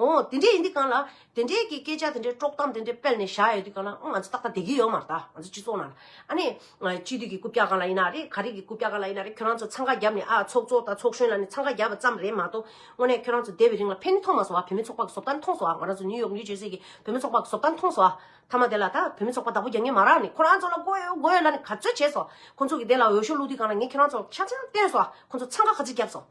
ཨོ། དེ་འདྲས་ཡིན་དུས་གང་ལ། དེ་འདྲས་ཀྱི་སྐད་ཆ་དེ་འདྲས་དཀྲོག་གཏམ་དེ་འདྲས་སྤེལ་ནས་བཞག་ཡོད་དུས་གང་ལ། ང་ཚོ་ཏག་ཏག་བདེ་སྐྱིད་ཡོད་མ་རེད་ད། ང་ཚོ་སྤྱི་ཚོགས་ནང། ཨ་ནི། སྤྱི་འཐུས་ཀྱི་རྐུབ་བཀྱག་གང་ལ་ཡིན་ན་རེད། ག་རེ་ཀྱི་རྐུབ་བཀྱག་གང་ལ་ཡིན་ན་རེད་ཁྱོད་རང་ཚོ་འཚང་ཁ་བརྒྱབ་ནས་ཨ་ཚོགས་གཙོ་དང་ཚོགས་གཞོན་ལ་ནི་འཚང་ཁ་བརྒྱབ་པ་ཙམ་རེད་མ་གཏོགས། དངོས་གནས་ཁྱོད་རང་ཚོ་སྡད་པའི་རིང་ལ་ཕན་ནུས་མཐོང་མ་སོང་ཨ་བུད་མེད་ཚོགས་པ་གི་བཟོ་ལྟ་མཐོང་སོང་ཨ་ང་རང་ཚོ་ནིའུ་ཡོག་ནིའུ་ཇེར་སི་ཀྱི་བུད་མེད་ཚོགས་པ་གི་བཟོ་ལྟ་མཐོང་སོང་ཨ། མཐའ་མ་དེ་ལ་ད་བུད་མེད་ཚོགས་པ་བདག་པོ་རྒྱག་ངེས་མ་རག་ནི་ཁོ་རང་ཚོ་ལ་དགོས་ཡོད་དགོས་ཡོད་ལ་ནི་ག་ཚོད་བྱས་སོང། ཁོ་ཚོ་གི་དེ་ལ་འོས་ཤོག་བླུག་དུས་གང་ལ་ངས་ཁྱོད་རང་ཚོ་ཆ་ཚང་བསྟན་སོང་ཨ་ཁོ་ཚོ་འཚང་ཁ་ག་ཚོད་བརྒྱབ་སོང།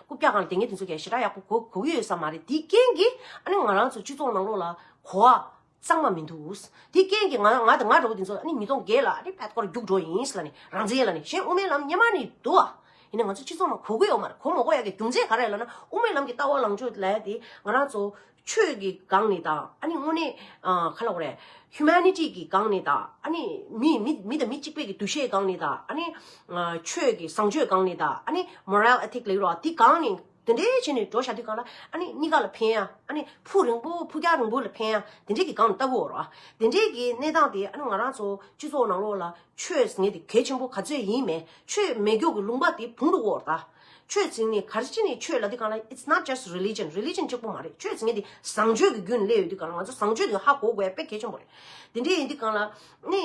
རྐུབ་བཀྱག་གང་ལ་དེ་སྔའི་དུས་ཚོད་ཀྱི་ཞེ་དྲག་ཡག་པོ་གོ་གི་ཡོད་ས་མ་རེད་དེའི་རྐྱེན་གྱིས་ཨ་ནི་ང་རང་ཚོའི་སྤྱི་ཚོགས་ནང་ལོགས་ལ་གོ་བ་གཙང་མ་མི་འདུག་དེའི་རྐྱེན་གྱིས་ང་ང་དང་ང་འདྲ་བོ་དེ་ཚོ་ཨ་ནི་མི་སྟོང་འགས་ལ་ཨ་ནི་ཕད་ཀོར་རྒྱུགས་འགྲོ་ཡིན་ལ་ནི་རང་བཙན་ལ་ནི་གཞན་དབུ་མའི་ལམ་ཉན་མ་ནི་འདུག་ཨ་ཡིན་ན་ང་ཚོའི་སྤྱི་ཚོགས་ནང་གོ་གི་ཡོད་མ་རེད་གོ་མ་གོ་ཡག་གི་རྒྱུ་མཚན་ག་རེ་ལ་ན་དབུ་མའི་ལམ་གྱི་ལྟ་བ་ལངས་ཕྱོགས་ལས་དེ་ང་རང་ཚོ་ཆོས་ཀྱི་སྒང་ནས་དང་ཨཱ་ནི་དངོས་གནས་ཁ་ལག་བ་རེད། Humanity། ཀྱི་སྒང་ནས་དང་ཨཱ་ནི་མི་མི་མི་དང་མི་གཅིག་པའི་འདུ་ཤེས་སྒང་ནས་དང་ཨཱ་ནི་ཆོས་ཀྱི་བཟང་སྤྱོད་སྒང་ནས་དང་ཨཱ་ནི Moral Ethic ལེགས་རོགས་དེ་སྒང་ནས་དེ་འདྲའི་བྱས་ནས་འགྲོ་བྱ་དུས་སྒང་ལ་ཨཱ་ནི་གཉིས་ཀ་ལ་ཕན་ཡ་ཨཱ་ནི་ཕུགས་རིང་པོ་ཕུགས་རྒྱང་རིང་པོ་ལ་ཕན་ཡ་དེ་འདྲའི་གི་སྒང་ནས་ལྟ་དགོས་རོགས། དེ་འདྲའི་གི་གནས་སྟངས་དེ་ཨཱ་ནི་ང་རང་ཚོ་སྤྱི་ཚོགས་ནང་ལོགས་ལ་ཆོས་ཟེར་ནས་དེ་གལ་ཆེན་པོ་ག་ཚོད་ཡིན་མེད་ཆོས་མེད་སྒྱོགས་ཀྱི་ལུང་པ་དེ་བུང་རུ་འོག་ལྟ། ཆོས་ཚིག་ནི་གལ་ཆེ་ནི་ཆོས་ལ་དེ་གང་ལ It's not just religion Religion གཅིག་པོ་མ་རེད་ཆོས་ཚིག་ནི་དེ་བཟང་སྤྱོད་ཀྱི་རྒྱུན་ལས་ཡོད་དེ་གང་ལ་ང་ཚོ་བཟང་སྤྱོད་དེ་ཧ་གོ་དགོས་དཔེ་གལ་ཆེན་པོ་རེད་དེ་འདྲའི་ཡིན་དེ་གང་ལ་ནི་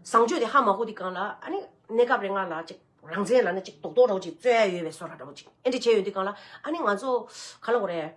བཟང་སྤྱོད་དེ་ཧ་མ་གོ་དེ་གང་ལ་ཨ་ནི་གནས་སྐབས་རེ་ང་ལ་ཅིག་རང་བཙན་ལ་ནི་ཅིག་དོགས་དོགས་འདྲ་བོ་ཅིག་རྩོད་ཡ་ཡོད་པའི་བཟོ་ར་འདྲ་བོ་ཅིག་ཨེ་འདྲ་བྱས་ཡོད་དེ་གང་ལ་ཨ་ནི་ང་ཚོ་ག་ལ་གོ་རེད།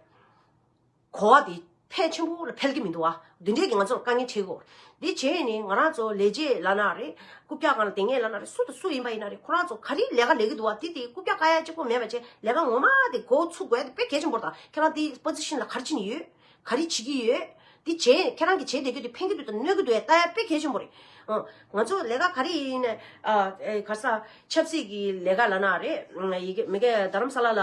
གོ་བ་དེ་ཕལ་ཆེན་པོ་ལ་ཕལ་གྱི་མི་འདུག་ཨ། དེ་འདྲས་ཀྱི་ང་ཚོར་དཀའ་ངལ་འཕྲད་གོ། དེ་བྱས་ནས་ང་རང་ཚོ་ལས་བྱེད་བླ་ན་རེ། རྐུབ་བཀྱག་གང་ལ་དེ་ངས་བླ་ན་རེ་སུ་དང་སུ་ཡིན་པ་ཡིན་ན་རེ་ཁོ་རང་ཚོ་ག་རེའི་ལས་ཀ་ལས་ཀྱི་འདུག་ཨ་དེ་དེ་རྐུབ་བཀྱག་ཀ་ཡ་གཅིག་པོ་མེད་པ་བྱས་ལས་ཀ་ངོ་མ་དེ་འགོ་ཚུགས་དགོས་ཨ་དེ་དཔེ་གལ་ཆེན་པོར་དང་ཁྱེད་རང་དེ Position ལ་གར་ཕྱིན་ནས་ཡོད། ག་རེ་བྱེད་ཀྱི་ཡོད། དེ་བྱས་ནས་ཁྱེད་རང་གི་བྱེད་བསྡད་རྒྱུ་དེ་ཕན་གྱི་འདུག་དང་གནོད་ཀྱི་འདུག་ཨ་ད་ཡ་དཔེ་གལ་ཆེན་པོ་རེད། ཨང། ང་ཚོ་ལས་ཀ་ག་རེ་ཡིན་ནས། ཨ། ག་ས། ཆབ་སྲིད་ཀྱི་ལས་ཀ་བླ་ན་རེ། མི་ཀ་རྡ་རམ་ས་ལ་ལ།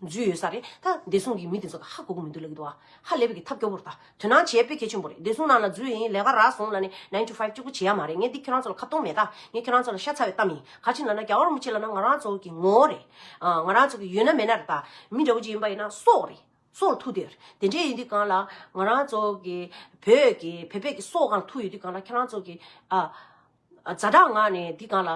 རྫུས་ཡོད་ས་རེད་ད། བདེ་སྲུང་གི་མི་དེ་ཚོ་ད་ཧ་གོ་གི་མི་འདུག་ལ་གི་འདུག་ཨ། ཧ་ལས་པ་གི་ཐབས་སྐྱོ་བོར་ད། དོན་སྣང་བྱེད་དཔེ་གལ་ཆེན་པོ་རེད། བདེ་སྲུང་ནང་ན་རྫུས་ཡིན་ལས་ཀ་རག་སོང་ལ་ནི nine to five གཅིག་པོ་བྱེད་ཡ་མ་རེད་ངས་འདི་ཁྱོད་རང་ཚོ་ལ་ཁ་བཏོང་མེད་ད། ངས་ཁྱོད་རང་ཚོ་ལ་ཤ་ཚ་བའི་གཏམ་ཡིན། ག་ཅིག་ལ་ན་རྒྱ་བོར་མི་བྱེད་ལ་ན་ང་རང་ཚོ་གི་ངོ་བོ་རེད། ང་རང་ཚོ་གི་ཡོད་ན་མེད་ན་རེད་ད། མི་འདྲ་བོ་ཅིག་ཡིན་པ་ཡིན་ན་སྲོག་རེད། སྲོག་ལ་ཐུག་དུས་ཡོད་རེད། དེ་འདྲས་ཡོད་དུས་གང་ལ། ང་རང་ཚོ་གི་བོད་ཀྱི་བོད་པས་ཀྱི་སྲོག་གང་ལ་ཐུག་ཡོད་དུས་གང་ལ་ཁྱོད་རང་ཚོ་གི་ཨ། ཛྭ་དྲག་ངག་ནས་འདི་གང་ལ།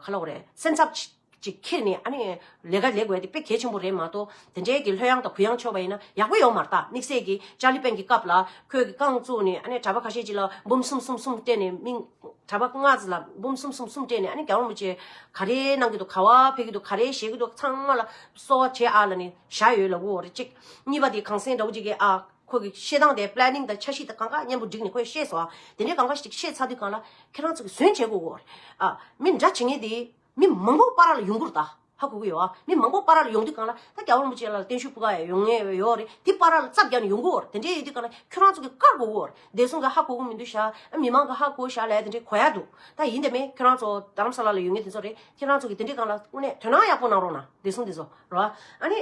ག་ལ་བོ་རེད། སེམས་འཚབ། ཅིག་ཁྱེར་ནས་ཨ་ནི། ལས་ཀ་ལས་དགོས་དེ་དཔེ་གལ་ཆེན་པོ་རེད་མ་གཏོགས། དེ་འདྲའི་གི་ལྷོད་ཡངས་དང་གུ་ཡངས་ཆོག་པ་ཡིན་ན་ཡག་པོ་ཡོང་མ་རྟགས་དམིགས་བསལ་གི་ཅཱ་ལི་པན་གྱི་སྐབས་ལ། ཁོས་གི་རྐང་བཙུགས་ནས་ཨ་ནི་གྲྭ་པ་ཁ་ཤས་ཅིག་ལ་འབུམ་གསུམ་གསུམ་གསུམ་སྤྲད་ནས་མིང། གྲྭ་པ་ལྔ་ཟི་ལ་འབུམ་གསུམ་གསུམ་གསུམ་སྤྲད་ནས་ཨ་ནི་གྱ་བོ་མོ་ཆེ། ག་རེ་གནང་གི་འདུག་ག་བ་ཕེབས་ཀྱི་འདུག་ག་རེ་བཞེས་ཀྱི་འདུག་ཚང་མ་ལ། གསོལ་བ་བྱེད་ཨ་ལ་ནི་བཞག་ཡོད་ལ་བུ་འོ་རེད་ཅིག། གཉིས་པ་དེ་གངས་སེང་དགྲ་བོ་ཅིག་གིས་ཨ། ཁོ་གིས་བཤད་སྟངས་དེ Planning དང་འཆར་གཞི་དང་གང་ག་མཉམ་པོ་བསྒྲིགས་ནས་ཁོས་བཤད་སོང་ཨ། དེ་འདྲའི་གང་ག་ཞིག་བཤད་ཚར་དུས་གང་ལ། ཁྱེད་རང་ཚོ་གིས་ཟོན་བྱེད་དགོས་གོ། ཨ། མི་འདྲ་བྱེད་ངེས་དེ། མི་མང་པོ་པ་ར་ལ་ཡོང་གུར་ད་ཧ་གོ་གི་ཡོད་ཨ། མི་མང་པོ་པ་ར་ལ་ཡོང་དུས་གང་ལ། ད་རྒྱ་བོར་མོ་ཅན་ལ་བརྟན་བཞུགས་ཕུལ་ག་ཡོང་ངེས་ཡོད་ཨོ་རེད། དེ་པ་ར་ལ་རྩ་བརྒྱག་ནས་ཡོང་གི་ཨོ། དེ་འདྲས་ཡོད་དུས་གང་ལ། ཁྱོད་རང་ཚོ་གིས་བཀར་དགོས་གོ། བདེ་སྲུང་གི་ཧ་གོ་གི་མི་འདུག་ཤ། ཨ། མི་མང་གི་ཧ་གོ་བཞག་ལས་དེ་འདྲས་གོ་ཡག་འདུག་ད་ཡིན་དེ་མེད། ཁྱོད་རང་ཚོ་རྡ་རམ་ས་ལ་ལ་ཡོད་ངེས་དེ་ཚོ་རེད། ཁྱེད་རང་ཚོ་གིས་དེ་འདྲས་གང་ལ། དངོས་གནས་དོན་སྣང་ཡག་པོ་གནང་རོགས་གནང། བདེ་སྲུང་དེ་ཚོ་རོ། ཨ་ནི།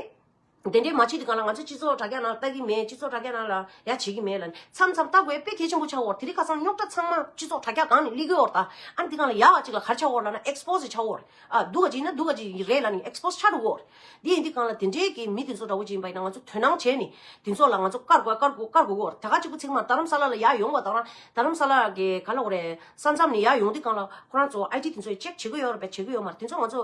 དེ་འདྲའི་མ་བྱས་ཀྱི་སྒང་ལ་ང་ཚོའི་སྤྱི་ཚོགས་དྲ་རྒྱ་ནང་ལྟ་གི་མེད་སྤྱི་ཚོགས་དྲ་རྒྱ་ནང་ལ་ཡ་བྱེད་ཀྱི་མེད་ལ་ནི་མཚམས་མཚམས་ལྟ་དགོས་དཔེ་གལ་ཆེན་པོ་ཆགས་འོར་དེ་རིགས་ཁ་སང་རྙོག་དྲ་ཚང་མ་སྤྱི་ཚོགས་དྲ་རྒྱ་སྒང་ནས་གླིག་འོར་དང་ཨ་ནི་དེ་སྒང་ལ་ཡ་བ་ཅིག་ལ་གར་ཆགས་འོར་ལ་ན Expose ཆགས་འོར་ཨ་སྡུག་ག་ཅིག་ཡིན་ན་སྡུག་ག་ཅིག་རེད་ལ་ནི Expose ཆགས་འགྲོ་འོར་དེ་ཡིན་དེ་སྒང་ལ་དེ་འདྲའི་གི་མི་དེ་ཚོ་འདྲ་བོ་ཅིག་ཡིན་པ་ཡིན་ན་ང་ཚོ་དོན་སྣང་བྱས་ནི་དེ་ཚོ་ལ་ང་ཚོ་བཀར་དགོས་བཀར་དགོས་བཀར་དགོས་འོར་ད་ག་གཅིག་པུ་ཚིག་མ་རྡ་རམ་ས་ལ་ལ་ཡ་ཡོང་བ་དང་ར་རྡ་རམ་ས་ལ་གི་ག་ལ་འོ་རེད་ས་མཚམས་ནས་ཡ་ཡོང་དེ་སྒང་ལ་ཁོ་རང་ཚོ IT དེ་ཚོས Check བྱེད་ཀྱི་ཡོད་ར་བེད་བྱེད་ཀྱི་ཡོད་མ་རེད་དེ་ཚོ་ང་ཚོ་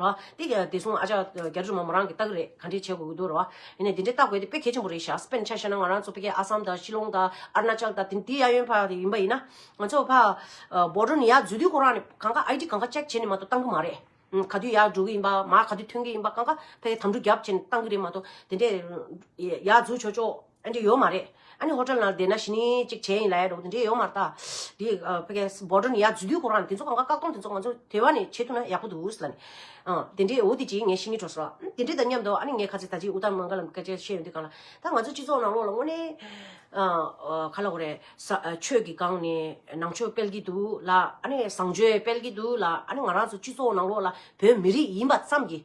རོ། དེ་དེ་གསུངས་ཨ་ཅག་རྒྱ་རི་མོ་མོ་རང་གི་རྟགས་རེད་ག་འདྲི་བྱེད་དགོས་ཀྱི་འདུག་རོ། ཡིན་ནས་དེ་འདྲི་རྟགས་དགོས་དེ་དཔེ་གལ་ཆེན་པོ་རེད་ཤག་སྤེན་ཆ་བཤད་ན་ང་རང་ཚོ་ཕི་གེ་ཨ་སམ་དང་ཤི་ལོང་དང་ཨར་ན་ཅལ་དང་དེ་ཡ་ཡོན་ཕ་དེ་ཡིན་པ་ཡིན་ན། ང་ཚོ་ཕ། འབོ་ཀྲོ་ནི་ཡ་འཛུལ་དུས་ཁོ་རང་ནི་གང་ག་ཨའི་ཏི་གང་ག་ཅེག་བྱེད་ནི་མ་གཏོགས་གཏང་གི་མ་རེད། ག་དུས་ཡ་འགྲོ་གི་ཡིན་པ་མ་ག་དུས་ཐོན་གི་ཡིན་པ་གང་ག་ཕ་གི་དམ་འཕྲུ་རྒྱབ་བྱེད་ནི་གཏང་གི་རེད་མ་གཏོགས་དེ་འདྲས། ཡ་འཛུལ་ཆོག་ཆོག། ཨ་འདྲེ་ཡོད་མ་རེད། ཨ་ནི་ཧོ་ཏེལ་ནང་བསྡད་ན་ཞི་ནི་ཅིག་བྱས་ཡིན་ལ་ཡ་འགྲོ་གི་འདི་འདྲེ་ཡོད་མ་རེད་ད། དེ་ཕ་གས་སྦོ་ཏྲོ་ནི་ཡ་རྫུས་རྒྱུ་གོ་རང་དེ་ཚོ་གང་ག་བཀག་སྡོམ་དེ་ཚོ་ང་ཚོ་དེ་བ་ནི་བྱེད་ཐུབ་ན་ཡག་པོ་འདུག་ལ་ནི། དེ་འདྲེ་འོ་དེ་ཅིག་ངས་ཤི་ནི་འགྲོ་སོ། དེ་འདྲེ་དང་མཉམ་དུ་ཨ་ནི་ངས་ཁ་ཚེ་ད་ཅིག་ཨུ་ཏར་མང་ག་ལ་མི་ཁ་ཅེ་བཤད་ཡོང་དུས་གང་ལ། ད་ང་ཚོ་སྤྱི་ཚོགས་ནང་ལོག་ལ་དངོས་ནས། ག་ལ་གོ་རེ། ས་ཆོས་ཀྱི་སྒང་ནས་ནང་ཆོས་སྤེལ་གྱི་འདུག་ལ་ཨ་ནི་བཟང་སྤྱོད་སྤེལ་གྱི་འདུག་ལ་ཨ་ནི་ང་རང་ཚོ་སྤྱི་ཚོགས་ནང་ལོག་ལ་བོད་མི་རིགས་ཡིན་པ་ཙམ་གྱིས།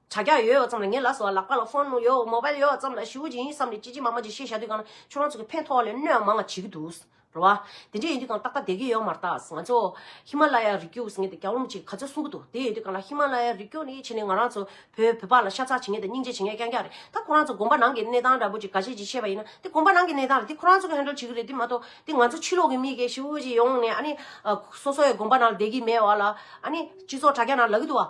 བྱ་རྒྱ་ཡོད་ཡོད་ཙམ་ལ་ངའི་ལགས་སོ་ལག་པ་ལ་ཧྥོན་ནུ་ཡོད་མོ་བལ་ཡོད་ཙམ་ལ་ཞིའུ་ཅིན་ཡིན་བསམ་ནས་ཅི་ཅི་མ་མ་ཅིག་བཤད་བཞག་དུས་གང་ན་ཁྱོད་རང་ཚོ་གི་ཕན་ཐོག་ལས་གནོད་མང་བ་བྱེད་ཀྱི་འདུག་རེད་བ། དེ་འདྲ་ཡིན་དུས་གང་ཏག་ཏག་བསྡད་ཀྱི་ཡོད་མ་རྟགས་ང་ཚོ། ཧི་མ་ལ་ཡ་རི་རྒྱུགས་ཟེར་ངེས་ཏེ་རྒྱ་ལུམ་ཅིག་ག་ཚོད་གསུང་གི་འདུག་དེ་ཡིན་དུས་གང་ལ་ཧི་མ་ལ་ཡ་རི་རྒྱུགས་ནི་བྱས་ནས་ང་རང་ཚོ་བོད་བོད་པ་ལ་ཤ་ཚ་བྱེད་ངེས་ཏེ་སྙིང་རྗེ་བྱེད་ངེས་རྐྱང་རྐྱང་རེད་ད་ཁོ་རང་ཚོ་དགོན་པ་ནང་གི་གནས་སྟངས་འདྲ་པོ་ཅིག་ག་ཅིག་ཅིག་བཤད་པ་ཡིན་ན་དེ་དགོན་པ་ནང་གི་གནས་སྟངས་རེད་དེ་ཁོ་རང་ཚོ་གི་ཧན་ཀྲོལ་བྱེད་ཀྱི་རེད་དེ་མ་གཏོགས་དེ་ང་ཚོ་ཕྱི་ལོག་གི་མི་གེ་ཞིའུ་ཅིག་ཡོང་ནས་ཨ་ནི། སོ་སོ་ཡི་དགོན་པ་ནང་བསྡད་ཀྱི་མེད་བ་ལ་ཨ་ནི་སྤྱི་ཚོགས་དྲ་རྒྱ་ནང་ལག་གི་འདུག་བ།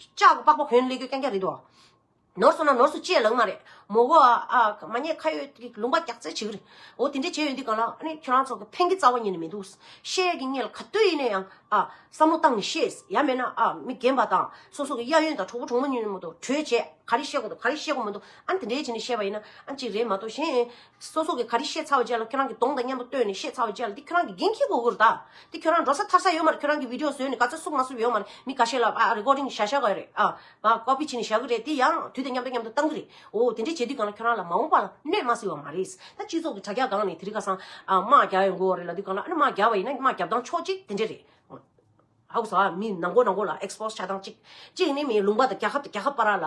ལྕགས་སྒོ་པགས་པ་བོན་ལས་གོས་རྐྱང་རྐྱང་རེད་དོ། ནོར་སོང་ན་ནོར་སོང་ཅེས་ལག་དམར་རེད། མོ་གོ། མ་རྙེད་ཁ་ཡོད་ཀྱི་ལུང་པ་རྒྱག་རྩལ་བྱེད་ཀྱི་རེད། འོ་དེ་འདྲས་བྱས་ཡོད་འདི་གང་ལགས། ཨ་ནི་ཁྱོད་རང་ཚོ་གི་ཕན་གྱི་རྩ་བ་ཉིད་ནས་མི་འདུག། བཤད་ཀྱི་རྙེད་ལ་ག་དུས་ཡིན་ན་ཡང། བསམ་བློ་བཏང་ནས་བཤད། ཡ་མེད་ན། མི་རྒན་པ་དང། སོ་སོ་གི་གཡས་གཡོན་དང་གྲོགས་པོ་གྲོགས་མོ་གཉིས་མོ་དང་གྲོས་བྱས། ག་རེ་བཤད་དགོས་དང་ག་རེ་བཤད་དགོས་མི་འདུག་ཨ་ནི་དེ་འདྲས་བྱས་ནས་བཤད་པ་ཡིན་ན་ཨ་ཅིག་རེད་མ་གཏོགས་གཞན། སོ་སོ་གི་ག་རེ་ཤེས་ཚར་བ་བཅས་ལ་ཁྱོད་རང་གི་གདོང་དང་མཉམ་པོ་བསྟོད་ནས་ཤེས་ཚར་བ་བཅས་ལ་འདི་ཁྱོད་རང་གི་རྒན་ཁྱི་གོ་གུར་དག་འདི་ཁྱོད་རང་འགྲོ་ས་ཐར་ས་ཡོད་མ་རེད་ཁྱོད་རང་གི་བིདེའོ་བཟོས་ནས་ག་ཚོད་བསུབ་མ་བསུབ་ཡོད་མ་རེད་མི་ག་ཤེས་ལ་ཨ་རེཀོརྡིང་བྱ་བཞག་གི་རེད་ཨ Copy བྱས་ནས་བཞག་གི་རེད་དེ་ཡང་དུས་དང་མཉམ་དུ་མཉམ་དུ་བཏང་གི་རེད་འོ་དེ་འདྲས་བྱས་དུས་གང་ལ་ཁྱོད་རང་ལ་མ་འོངས་པ་ལ་གནོད་མ་སྲིད་བ་མ་རེད་ད་སྤྱི་ཚོགས་ཀྱི་དྲ་རྒྱ་སྒང་ནས་དེ་རིང་ཁ་སང་དམག་རྒྱག་ཡོང་དགོས་བ་རེད་ལ་དུས་གང་ལ་ཨ་རེ་དམག་རྒྱག་བ་ཡིན་ན་དམག་རྒྱབ་སྟངས་ཕྱོགས་གཅིག་དེ་འདྲས་རེད་ཨ་ཨོ་ཟ་མི་ནང་མགོ་ནང་མགོ་ལ Expose བྱ་སྟངས་གཅིག་གཅིག་ནི་མིའི་ལུང་པ་དང་རྒྱ་ཁབ་དང་རྒྱ་ཁབ་པ་ར་ལ།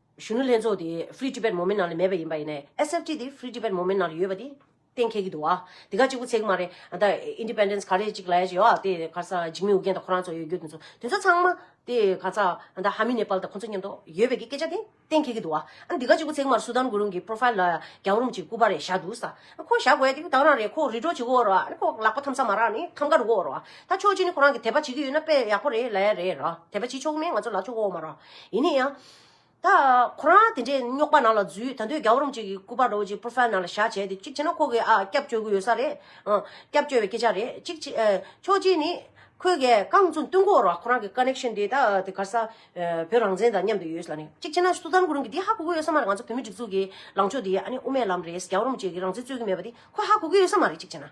གཞོན་ནུ་ལྷན་ཚོགས་དེ Free Tibet Movement ནང་ལ་མེད་པ་ཡིན་པ་ཡིན་ནའི SFT དེ Free Tibet Movement ནང་ལ་ཡོད་པ་དེ་གཏན་འཁེལ་གྱི་འདུག་བ། དེ་ག་གཅིག་པུ་ཚེག་མ་རེད་ཨ་མདའ Independence ག་རེ་གཅིག་ལ་ཡ་ཅིག་ཡོད་དེ་ག་ས་འཇིགས་མེད་ཨུ་རྒྱན་དང་ཁོ་རང་ཚོ་ཡོད་རྒྱུ་དེ་ཚོ་དེ་ཚོ་ཚང་མ་དེ་ག་ས་ཨ་མདའ Hami Nepal དང་ཁོ་ཚོ་མཉམ་དུ་ཡོད་པའི་གི་སྐད་ཆ་དེ་གཏན་འཁེལ་གྱི་འདུག་བ། ཨ་དེ་ག་གཅིག་པུ་ཚེག་མར Sudan གུ་རུང་གི Profile ལ་རྒྱང་རུམ་གཅིག་སྐུ་པར་རེ་བཞག་འདུག་ས་ཨ་ཁོ་བཞག་དགོས་དེ་གདང་རང་རེད་ཁོ་རི་གྲོ་བྱེད་གི་འོག་རོ་ཨ་ནི་ཁོ་ལག་པ་འཐམ་ས་མ་རག་ནི་འཐམ་ཀ་རུ་གི་འོག་རོ་ད་ཆོག་ཅི་ནི་ཁོ་རང་གི་དད་པ་བྱེད་གི་ཡོད་ན་དཔེ་ཡག་པོ་རེད་ལ་ཡ་རེད་ར་དད་པ་བྱེད་ཆོག་གི་མེད་ང་ཚོ་ལག་ཆོག་གི་འོག་མ་ར་ཡིན་ནི་ཡ། ད། ཁོ་རང་དེ་འདྲའི་རྙོག་པ་ནང་ལ་འཛུལ་ད་འདོད་རྒྱ་བོ་རུམ་ཅིག་གི་སྐུ་པར་རོ་ཅིག Profile ནང་ལ་བཞག་བྱས་ཏེ་ཅིག་བྱས་ན་ཁོ་གི་ཨ་སྐྱབས་བཅོལ་གི་ཡོད་ས་རེད། སྐྱབས་བཅོལ་བའི་སྐད་ཆ་རེད་ཅིག་བྱས། ཕྱོགས་གཅིག་ནི། ཁོས་གས་རྐང་བཙུན་བསྟུན་འགོ་ར་ཁོ་རང་གི Connection དེ་ད་དེ་གར་ས། བོད་རང་བཙན་དང་མཉམ་དུ་ཡོད་ས་རེད་ཅིག་བྱས་ན་སུ་ཙམ་གོ་རིམ་གི་དེ་ཧ་གོ་གི་ཡོད་ས་མ་རེད་ང་ཚོ་བོད་མི་སྒྲིག་འཛུགས་གི་ལངས་ཕྱོགས་དེ་ཨ་ནི་དབུ་མའི་ལམ་རེད་རྒྱ་བོ་རུམ་ཅིག་གི་རང་བཙན་རྩོད་གི་མེད་པ་དེ་ཁོས་ཧ་གོ་གི་ཡོད་ས་མ་རེད་ཅིག་བྱས་ན།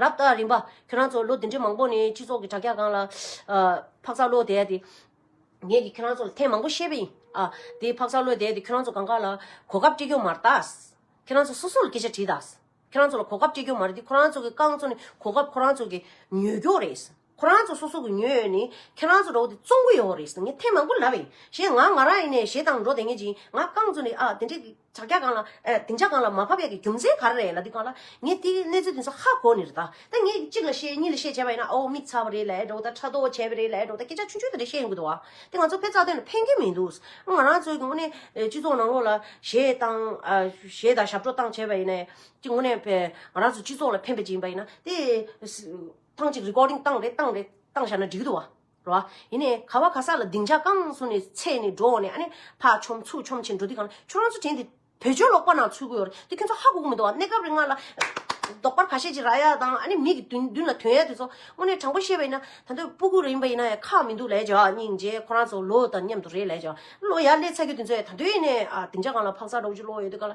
རབ་དང་རིམ་པ། ཁྱོད་རང་ཚོ་ལོ་འདི་འདྲའི་མང་པོ་ནས་སྤྱི་ཚོགས་ཀྱི་དྲ་རྒྱ་སྒང་ལ། འཕག་འཚག་ཀློད་དད་དེ། ངས་ཀྱིས་ཁྱོད་རང་ཚོ་ལ་ཐེངས་མང་པོ་བཤད་པ་ཡིན། ཨ། དེ་འཕག་འཚག་ཀློད་དད་དེ་ཁྱོད་རང་ཚོ་གང་ག་ལ། གོ་སྐབས་སྤྲད་རྒྱུ་མ་རེད་ད། ཁྱོད་རང་ཚོ་སོ་སོ་ལ་སྐད་ཆ་དྲིས་ད། ཁྱོད་རང་ཚོ་ལ་གོ་སྐབས་སྤྲད་རྒྱུ་མ་རེད་དེ་ཁོ་རང་ཚོ་གི་རྐང་ཚོ་ནི་གོ་སྐབས་ཁོ་རང་ཚོ་གི་ཉོས་རྒྱུ་རེད། ཁོ་རང་ཚོ་སོ་སོ་གི་ཉོས་ཡོད་ནི་ཁྱོད་རང་ཚོ་འགྲོ་དེ་བཙོང་གི་ཡོད་རེད་ཟེར་ངས་ཐེངས་མང་པོ་ལབ་ཡིན་ཞེས་ང་ང་རང་ཡིན་ནས་ཞེ་སྡང་འགྲོ་དེ་ངེས་ཅིང་ང་རྐང་བཙུགས་ནས་ཨ་དེ་འདྲའི་ཇག་རྒྱག་གང་ལ་ཨེ་དེ་འཇག་གང་ལ་མ་ཕབ་ཡག་གི་རྒྱུ་མཚན་ག་རེ་རེད་ལ་དེ་གང་ལ་ངས་དེ་གནས་ཚུལ་དེ་ཚོ་ཧ་གོ་ནི་རེད་ད་ད་ངས་གཅིག་ལ་བཤད་གཉིས་ལ་བཤད་བྱས་པ་ཡིན་ན་ཨོའོ་མིག་ཚ་བ་རེད་ལ་ཨེ་འགྲོ་ད་ཕྲ་དོག་བྱས་པ་རེད་ལ་ཨེ་འགྲོ་ད་སྐད་ཆ་ཆུང་ཆུང་དེ་འདྲ་བཤད་ཡོང་གི་འདུག་ཨ་དེ་ང་ཚོ་ཕེབས་རྩ་དོན་ལ་ཕན་གྱི་མི་འདུག་ང་རང་ཚོའི་དངོས་གནས་སྤྱི་ཚོགས་ནང་ལོགས་ལ་ཞེ་སྡང་ཞེ་སྡང་ཞབས་བྲོ་བཏང་བྱས་པ་ཡིན་ན་ཨེ་དེ་དངོས་གནས་ང་རང་ཚོ་སྤྱི་ཚོགས་ལ་ཕན་པ་ཅིག་ཡིན་པ་ཡིན་ན་དེ་ཐང་ཅིག recording བཏང་རེད་བཏང་རེད་བཏང་བཞག་ན་འགྲིག་གི་འདུག་བ་རེད་བ། ཡིན་ནའི་ག་བ་ག་ས་ལ་སྡིངས་ཆ་བཀང་སོང་ནས་ཚེས་ནས་འགྲོ་འོང་ནས་ཨ་ནེ་ཕག་ཆོམ་ཚུགས་ཆོམ་བྱེད་འགྲོ་དུས་གང་ཁྱོད་རང་ཚོ་དྲན་ཏེ་བོད་ཆོལ་ལོག་པ་ནང་ཚུད་གི་ཡོད་རེད་དེ་ཁྱོད་ཚོ་ཧ་གོ་གི་མི་འདུག་བ་གནས་སྐབས་རེ་ང་ལ་ལྡོག་པར་ཁ་ཤས་ཀྱི་ར་ཡ་དང་ཨ་ནེ་མིག་གི་མདུན་ལ་དོན་ཡ་དེ་ཚོ་དངོས་གནས་དྲང་པོ་བཤད་པ་ཡིན་ན་ད་འདོད་སྤུ་གུ་རེ་ཡིན་པ་ཡིན་ན་ཡ་ཁག་མི་འདུག་ལས་བྱ་བ་སྙིང་རྗེ་ཁོ་རང་ཚོ་ལོ་དང་མཉམ་དུ་རེད་ལས་བྱ་བ་ལོ་ཡ་ལས་ཚ་རྒྱུ་དེ་ཚོ་ཡ་ད་འདོད་ཡིན་ནའི་སྡིངས་ཆ་གང་ལ་ཕག་ཚ་འགྲོ་གི་ཆུ་ལོག་ཡོད་དུས་ག་ལ།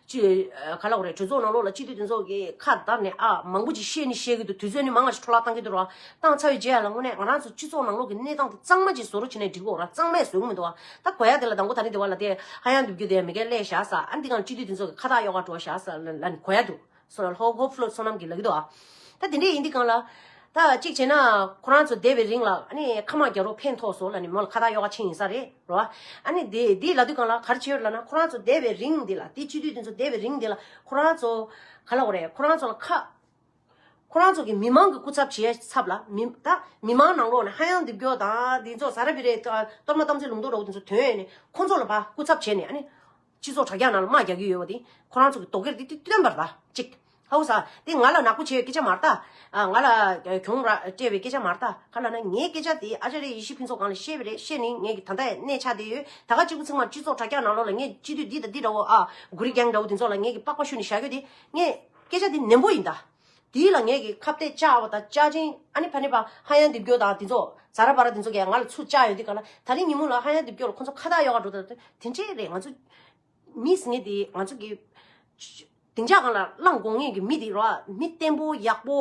ཅེས་ག་ལ་འོ་རེད་གྲོས་ཚོགས་ནང་ལོགས་ལ་སྤྱི་འཐུས་དོན་ཚོགས་ཀྱིས་ཁ་བརྡབས་ནས་ཨ་མང་པོ་ཅིག་བཤད་ནི་བཤད་གི་འདུག་དུས་ཚོད་ནི་མང་བ་ཞིག་འཕྲོ་བརླག་གཏང་གི་འདུག་རང་བཏང་ཚར་བའི་རྗེས་ཡ་ལ་དངོས་གནས་ང་རང་ཚོ་སྤྱི་ཚོགས་ནང་ལོགས་ཀྱི་གནས་སྟངས་དེ་གཙང་མ་ཅིག་བཟོ་རོགས་བྱེད་ནས་འགྲིག་གོ་ར་གཙང་མས་བཟོས་གི་མི་འདུག་ཨ་ད་གོ་ཡ་དེ་ལ་དང་པོ་ད་ནི་དེ་བ་ལ་དེ་ཧ་ཡང་འགྲུབ་རྒྱུ་དེ་མི་འགལ་ཀླད་བཞག་ས་ཨ་འདི་གང་སྤྱི་འཐུས་དོན་ཚོགས་ཀྱི་ཁ་བཏགས་གཡོག་ག་འགྲོ་བཞག་ས་ལ་ནི་གོ་ཡ་འདུག་སོ་ལ་ལྷོ་ཧོ་ཕུ་ལོ་སོ་ནམ་གྱི་ལག་གི་འདུག་ཨ་ད་དེ་འདྲས་ཡིན་དེ་གང་ལ། ད་གཅིག་བྱས་ན་ཁོ་རང་ཚོ་བསྡད་པའི་རིང་ལ་ཨ་ནི་ཁ་མང་རྒྱ་རོ་ཕན་ཐོགས་སོ་ལ་ནི་མོ་ལ་ཁ་ཐག་གཡོག་ཁ་ཆིངས་ཡིན་ས་རེད་རོ། ཨ་ནི་དེ་དེའི་ལ་དུས་གང་ལ་གར་བྱེད་ཡོད་ལ་ན་ཁོ་རང་ཚོ་བསྡད་པའི་རིང་འདི་ལ་དེ་སྤྱི་འཐུས་དེ་ཚོ་བསྡད་པའི་རིང་འདི་ལ་ཁོ་རང་ཚོ་ག་ལ་འོ་རེད་ཁོ་རང་ཚོ་ལ་ཁ། ཁོ་རང་ཚོ་གི་མི་མང་གི་སྐུ་ཚབ་བྱས་ཚབ་ལ་མི་ད་མི་མང་ནང་ལོག་ནས་ཧ་ཡང་འདེབས་རྒྱོག་དང་དེ་ཚོ་ཟ་ར་བི་རའི་གཏོར་མ་གཏམ་ཚིག་ལུང་རྡོག་རྡོག་དེ་ཚོ་དོན་ཡོད་ནས་ཁོ་ཚོ་ལ་བ་སྐུ་ཚབ་བྱས་ནས་ཨ་ནི། སྤྱི་ཚོགས་དྲ་རྒྱ་ནང་ལ་དམག་རྒྱག་གི་ཡོད་པ་དེ། ཁོ་རང་ཚོ་གི་དོགས་གེར་དེ་སྟོན་པར་གདའ། ཅིག། ཧཱུྃ་ས། དེ་ང་ལ་ནག་པོ་བྱས་ཡོད་སྐད་ཆ་མ་ལྟ། ང་ལ། གྱོང། སྤྲད་པའི་སྐད་ཆ་མ་ལྟ། ག་ལ་ན་ངའི་སྐད་ཆ་དེ་ཨ་ཅཱ་རེ་ཡེ་ཤེས་ཕུན་ཚོགས་གང་ལ་བཤད་པས་རེད་བཤད་ནི་ངས་ཀྱི་ད་ལྟ་གནས་ཆགས་བསྡད་ཡོད་ད་ག་གཅིག་པུ་ཚིག་མར་སྤྱི་ཚོགས་དྲ་རྒྱ་ནང་ལོགས་ལ་ངས་སྤྱི་འཐུས་འདི་དང་འདི་འདྲ་བོ་ཨ། གུ་རི་རྒྱལ་འདྲ་བོ་དེ་ཚོ་ལ་ངས་ཀྱི་པགས་པ་བཤུ་ནི་བཞག་གི་དེ། ངས། སྐད་ཆ་དེ་ནན་པོ་ཡིན་ད། དེ་ལ་ངེད་ཀྱིས་ཁ་བརྡས་བཅའ་བ་དང་བཅའ་ཅིང་ཨ་ནེ་ཕ་ནེ་བྷ་ཧ་ཡང་འདེབས་རྒྱུ་དང་དེ་ཚོ་ཛ་ར་བྷ་ར་དེ་ཚོ་གས་ང་ལ་ཚུར་བཅའ་ཡོད་འདི་ག་ལ་ད་རིང་ཉིན་མོ་ལ་ཧ་ཡང་འདེབས་རྒྱུ་ལ་ཁོ་ཚོ་ཁ་ཐག་གཡོག་འགྲོ་དང་དེ་འདྲས་རེད་ང་ཚོ་མིས་ངེད་དེ་ང་ཚོ་གི་བདེ་འཇགས་གང་ལ་བླངས་དགོངས་ངེད་ཀྱི་མི་དེ་རོ་མི་བརྟན་པོ་ཡག་པོ་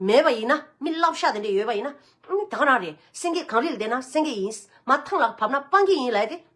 མེད་པ་ཡིན་ན་མི་བསླབ་ཤ་དེ་འདྲས་ཡོད་པ་ཡིན་ན་ཨ་ནེ་ད་ག་རང་རེད་སེང་གེ་གངས་རི་ལ་བསྡད་ན་སེང་གེ་ཡིན་མ་ཐང་ལ་བབས་ན་སྤང་ཁྱི་ཡིན་ལ་ཡ་དེ།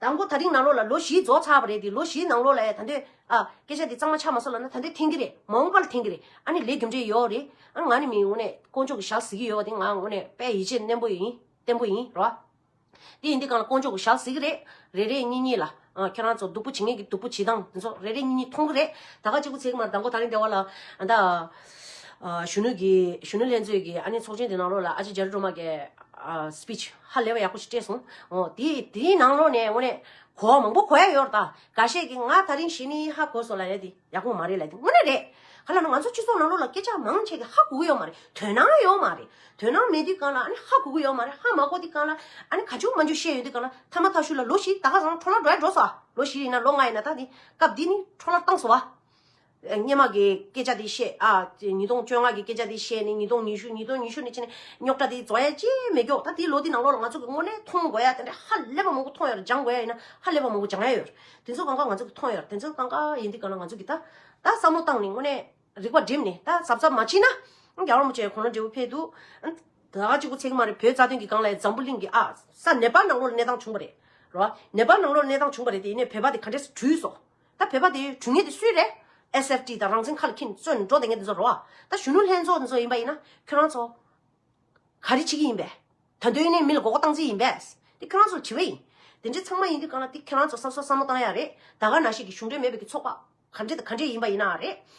དང་པོ་ད་རིང་ནང་ལོགས་ལ་ལོ་བཞི་རྫོགས་ཚར་བ་རེད་དེ་ལོ་བཞི་ནང་ལོགས་ལ་ཡང་ད་འདོད། ཨ། སྐད་ཆ་འདི་གཙང་མ་ཆ་མ་གསོ་ལབ་ན་ད་འདོད་འཐེན་གི་རེད་མ་འོངས་པ་ལ་འཐེན་གི་རེད་ཨ་ནི་ལས་རྒྱུ་འབྲས་ཡོད་རེད་ཨ་ང་ནི་མི་ངོ་ནས་དཀོན་མཆོག་གི་ཞག་གཟིགས་ཀྱི་ཡོད་བ་དེ་ང་ངོ་ནས་དཔལ་ཡིད་ཆེས་ནན་པོ་ཡིན་བརྟན་པོ་ཡིན་རོ། དེ་ཡིན་དེ་གང་ལ་དཀོན་མཆོག་གི་ཞག་གཟིགས་ཀྱི་རེད་རེ་རེ་གཉིས་གཉིས་ལ་ཨ་ཁྱོད་རང་ཚོ་སྡུག་པོ་བྱེད་ངེས་ཀྱི་སྡུག་པོ་བྱེད་སྟངས་དེ་ཚོ་རེ་རེ་གཉིས་གཉིས་མཐོང་གི་རེད་ད་ག་གཅིག་པུ་ཚེག་མར་དང་པོ་ད་རིང་སྡེ་བ་ལ་ཨ་ད། གཞོན་ནུ་གཞོན་ནུ་ལྷན་ཚོས་ཀྱི་ཨ་ནི་ཚོགས་ཆེན་དེ་ནང་ལོགས་ལ་ཨ་ཅེ་རྗེ་རི་སྒྲོལ་མ་ཀྱེ། Speech། ཧ་ལས་པ་ཡག་པོ་ཞིག་སྤྲད་སོང། དེ་དེའི་ནང་ལོགས་ནས་དངོས་གནས། གོ་མང་པོ་གོ་ཡ་ཡོད་རེད་ད། ག་ཤེད་ཀྱི་ང་ད་རིང་བྱས་ནི་ཧ་གོ་སོང་ལ་རེད་དེ། ཡག་པོ་མ་རེད་ལ་དེ་དངོས་གནས་རེད། ག་ལ་ན་ང་ཚོ་སྤྱི་ཚོགས་ནང་ལོགས་ལ་སྐད་ཆ་མང་ཆེ་གི་ཧ་གོ་གི་ཡོད་མ་རེད། དོན་སྣང་ཡོད་མ་རེད། དོན་སྣང་མེད་དུས་གང་ལ་ཨ་ནི་ཧ་གོ་གི་ཡོད་མ་རེད་ཧ་མ་གོ་དུས་གང་ལ་ཨ་ནི་ག་འཇུག་མ་འཇུག་བཤད་ཡོད་དུས་གང་ལ་ཐ་མ་ཐག་ཤུལ་ལ་ལོ་བཞི་ད་ག་ཟང་ཁྲོ་ལ་འགྲོ་ཡ་འགྲོ་སོ་ཨ། ལོ་བཞི་ཡིན་ན་ལོ་ལྔ་ཡིན་ན་ད་དེ། སྐབས་འདི་ནི་ཁྲོ་ལ་བཏང་སོང་ཨ། སྙེ་མ་གའི་སྐད་ཆ་དེ་བཤད། ཉིས་སྟོང་བཅོ་ལྔ་གི་སྐད་ཆ་དེ་བཤད་ནས་ཉིས་སྟོང་ཉི་ཤུ་ཉིས་སྟོང་ཉི་ཤུ་ནས་ཕྱིན་ནས་རྙོག་དྲ་དེ་རྫོགས་ཡ་ཅི་ཡང་མེད་ཀྱོག་ད་དེའི་ལོ་དེའི་ནང་ལོགས་ལ་ང་ཚོ་གི་དངོས་གནས་མཐོང་དགོས་ཡ་དེ་འདྲ་ཧ་ལས་པ་མང་པོ་མཐོང་ཡོད་རེད་སྦྱང་དགོས་ཡ་ཡིན་ན་ཧ་ལས་པ་མང་པོ་སྦྱང་ཡ་ཡོད་རེད་དེ་ཚོ་གང་ག་ང་ཚོ་གི་མཐོང་ཡོད་རེད་དེ་ཚོ་གང་ག་ཡིན་དེ་ག་ལ་ང་ཚོ་གི་ད་ད་བསམ་བློ་བཏང་ནས་དངོས་གནས་རིག་པ་བསྒྲིམས་ནས་ད་གཟབ་གཟབ་མ་བྱིན་ན་རྒྱ་དམར་མོ་ཆེ་གོ་ལ་འབྲས་བུ་འཕེལ་འདུག་ད་གཅིག་པུ་ཚད་གི་མ་རེད་བོད་རྩ་དོན་གི་སྒང་ལ་འཛམ་བུ་གླིང་གི་ཨ་ས་ནེ་པ་ལ་ནང་ལོགས་ལ་གནས་སྟངས་བྱུང་པ་རེད་རོ། ནེ་པ་ལ་ནང་ལོགས་ལ་གནས་སྟངས་བྱུང་པ་རེད་དེ་ཡིན་ནས་བོད་པ་དེ་ག་འདྲས་སུ་བྲུས་སོ། ད་བོད་པ་དེ་གྲུ་ངེད་དེ་སུའི་རེད། SFT དང་རང་བཙན་ཁ་ལ་ཁྱིན་བཙོན་འགྲོ་དེ་ངེད་དེ་ཚོ་རོ། ད་གཞོན་ནུ་ལྷན་ཚོགས་དེ་ཚོ་ཡིན་པ་ཡིན་ན་ཁྱོད་རང་ཚོ། ག་རེ་བྱེད་ཀྱི་ཡིན་པས། ད་དོན་ནས་མི་ལ་འགོག་པ་གཏང་རྩིས་ཡིན་པས། དེ་ཁྱོད་རང་ཚོ་ལ་དྲི་བ་ཡིན། དེ་འདྲའི་ཚང་མ་ཡིན་དུས་གང་ལ་དེ་ཁྱོད་རང་ཚོ་བསམ་སོ་བསམ་མོ་གཏང་ཡ་རེད། ད་ག་ན་ཞིག་གི་གཞུང་འབྲེལ་མེད་པའི་གི་ཚོགས་པ། ག་འདྲེ་དང་ག་འདྲེ་ཡིན་པ་ཡིན་ན་རེད།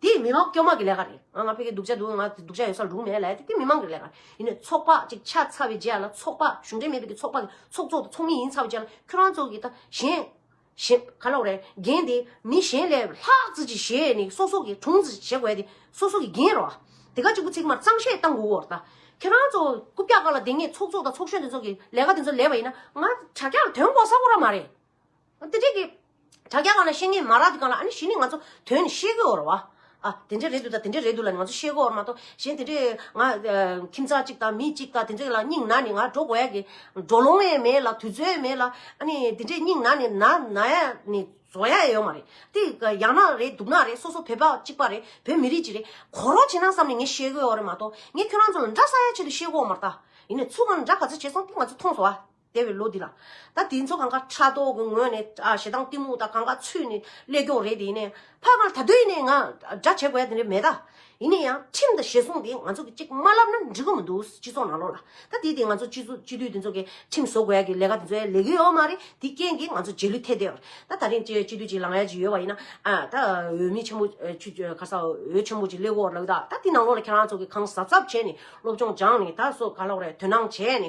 དེ་མི་མང་སྐྱོ་མང་གི་ལས་ཀ་རེད། ང་ང་ཕེ་ཁེ་སྡུག་ཅག་འདུག་ང་སྡུག་ཅག་ཡོད་སར་འགྲུག་མེད་ལ་དེ་མི་མང་གི་ལས་ཀ་རེད། ཡིན་ནའི་ཚོགས་པ་གཅིག་ཆགས་ཚར་བའི་རྗེས་ལ་ཚོགས་པ་གཞུང་འབྲེལ་མིན་པའི་ཚོགས་པ་གི་ཚོགས་གཙོ་དང་ཚོགས་མི་ཡིན་ཚར་བའི་རྗེས་ལ་ཁྱོད་རང་ཚོ་གི་ད་གཞན། གཞན། ག་ལོག་རེད་འགན་དེ་མི་གཞན་ལས་ལྷག་བརྩི་ཅི་བྱས་ནས་སོ་སོ་གི་དྲུང་བརྩི་བྱེད་དགོས་དེ་སོ་སོ་གི་འགན་རོ། དེ་ག་གཅིག་པུ་ཚིག་མར་གཙང་བཤད་གཏང་དགོས་འོར་ད། ཁྱོད་རང་ཚོ་རྐུབ་བཀྱག་ཀ་ལ་འདེང་ངེས་ཚོགས་གཙོ་དང་ཚོགས་གཞོན་དེ་ཚོ་གི་ལས་ཀ་དེ་ཚོ་ལས་པ་ཡིན་ན་ང་དྲ་རྒྱ་ལ་དོན་གོ་ས་གོ་ར་མ་རེད། དེ་འདྲའི་གི། དྲ་རྒྱ་གང་ནས་ཤེས་ངེས་མ་རག་དེ་གང་ལ་ཨ་ནི་ཞི་ནི་ང་ཚོ་དོན་ནི་ཤེས་གི་འོར་བ། ཨ་དེ་འདྲའི་རེད་འདུག་ད་དེ་འདྲའི་རེད་འདུག་ལ་ནི་ང་ཚོ་ཤེས་གི་འོར་མ་གཏོགས་གཞན་དེ་འདྲའི་ང། ཁྱིམ་ཚང་གཅིག་དང་མི་གཅིག་དང་དེ་འདྲའི་ལ་སྙིང་ན་ནི་ང་འགྲོ་དགོས་ཡ་གི། འགྲོ་ལོང་ཡས་མེད་ལ་དུས་ཚོད་ཡས་མེད་ལ་ཨ་ནི་དེ་འདྲའི་སྙིང་ན་ནི་ན་ན་ཡ་ནི་བཟོ་ཡ་ཡས་ཡོད་མ་རེད། དེ་གི་ཡང་ན་རེད་འདུག་ན་རེད་སོ་སོ་བོད་པ་གཅིག་པ་རེད་བོད་མི་རིགས་གཅིག་རེད་གོ་རོགས་བྱེད་ན་བསམ་ནི་ངས་ཤེས་གི་འོར་རེད་མ་གཏོགས་ངས་ཁྱོད་རང་ཚོ་ལ་འདྲ་ས་ཡ་ཆེད་དུ་ཤེས་གི་འོར་མ་རྟ། ཡིན་ནས་ཚུར་ཁ་ནས་འདྲ་ག་ཚོད་བྱས་སོང་དེ་ང་ཚོ་མཐོང་སོང་བ། འདས་པའི་ལོ་འདི་ལ། ད་དེ་ཚོ་གང་ག་ཕྲག་དོག་གི་ངོས་ནས་ཞེ་སྡང་གཏི་མུག་དང་གང་ག་ཚུད་ནས་སླད་སྐྱོང་རེད་དེ་ཡིན་ནའི། ཕ་མར་ད་དུས་ནས་ང་འདྲ་བྱེད་དགོས་ཡ་དེ་འདྲ་མེད་ད། ཡིན་ནའི་ཡང་ཁྲིམས་དང་ཞེ་སྲུང་དེ་ང་ཚོ་གི་གཅིག་མ་ལབ་ན་འགྲིག་གི་མི་འདུག་སྤྱི་ཚོགས་ནང་ལོག་ལ། ད་དེ་དེ་ང་ཚོ་སྤྱི་སྤྱི་འཐུས་དེ་ཚོ་གི་ཁྲིམས་བཟོ་དགོས་ཡ་གི་ལས་ཀ་དེ་ཚོ་ཡ་ལས་གི་ཡོད་མ་རེད་དེ་རྐྱེན་གི་ང་ཚོ་རྗེས་ལུས་ཐེད་དེ་ཡོད་རེད་ད་ད་རིང་སྤྱི་འཐུས་གཅིག་ལངས་ཡ་གཅིག་ཡོད་པ་ཡིན་ན། ད་འོས་མི་ཆེན་པོ་ཁ་ས་འོས་ཆེན་པོ་གཅིག་སླད་གོ་ལགས་ད་ད་དེ་ནང་ལོག་ལ་ཁྱེད་རང་ཚོ་གི་གང་གཟབ་གཟབ་བྱས་ནས་སློབ་སྦྱོང་སྦྱངས་ནས་ད་སོ་ག་ལོག་རེད་དོན་སྣང་བྱས་ནས།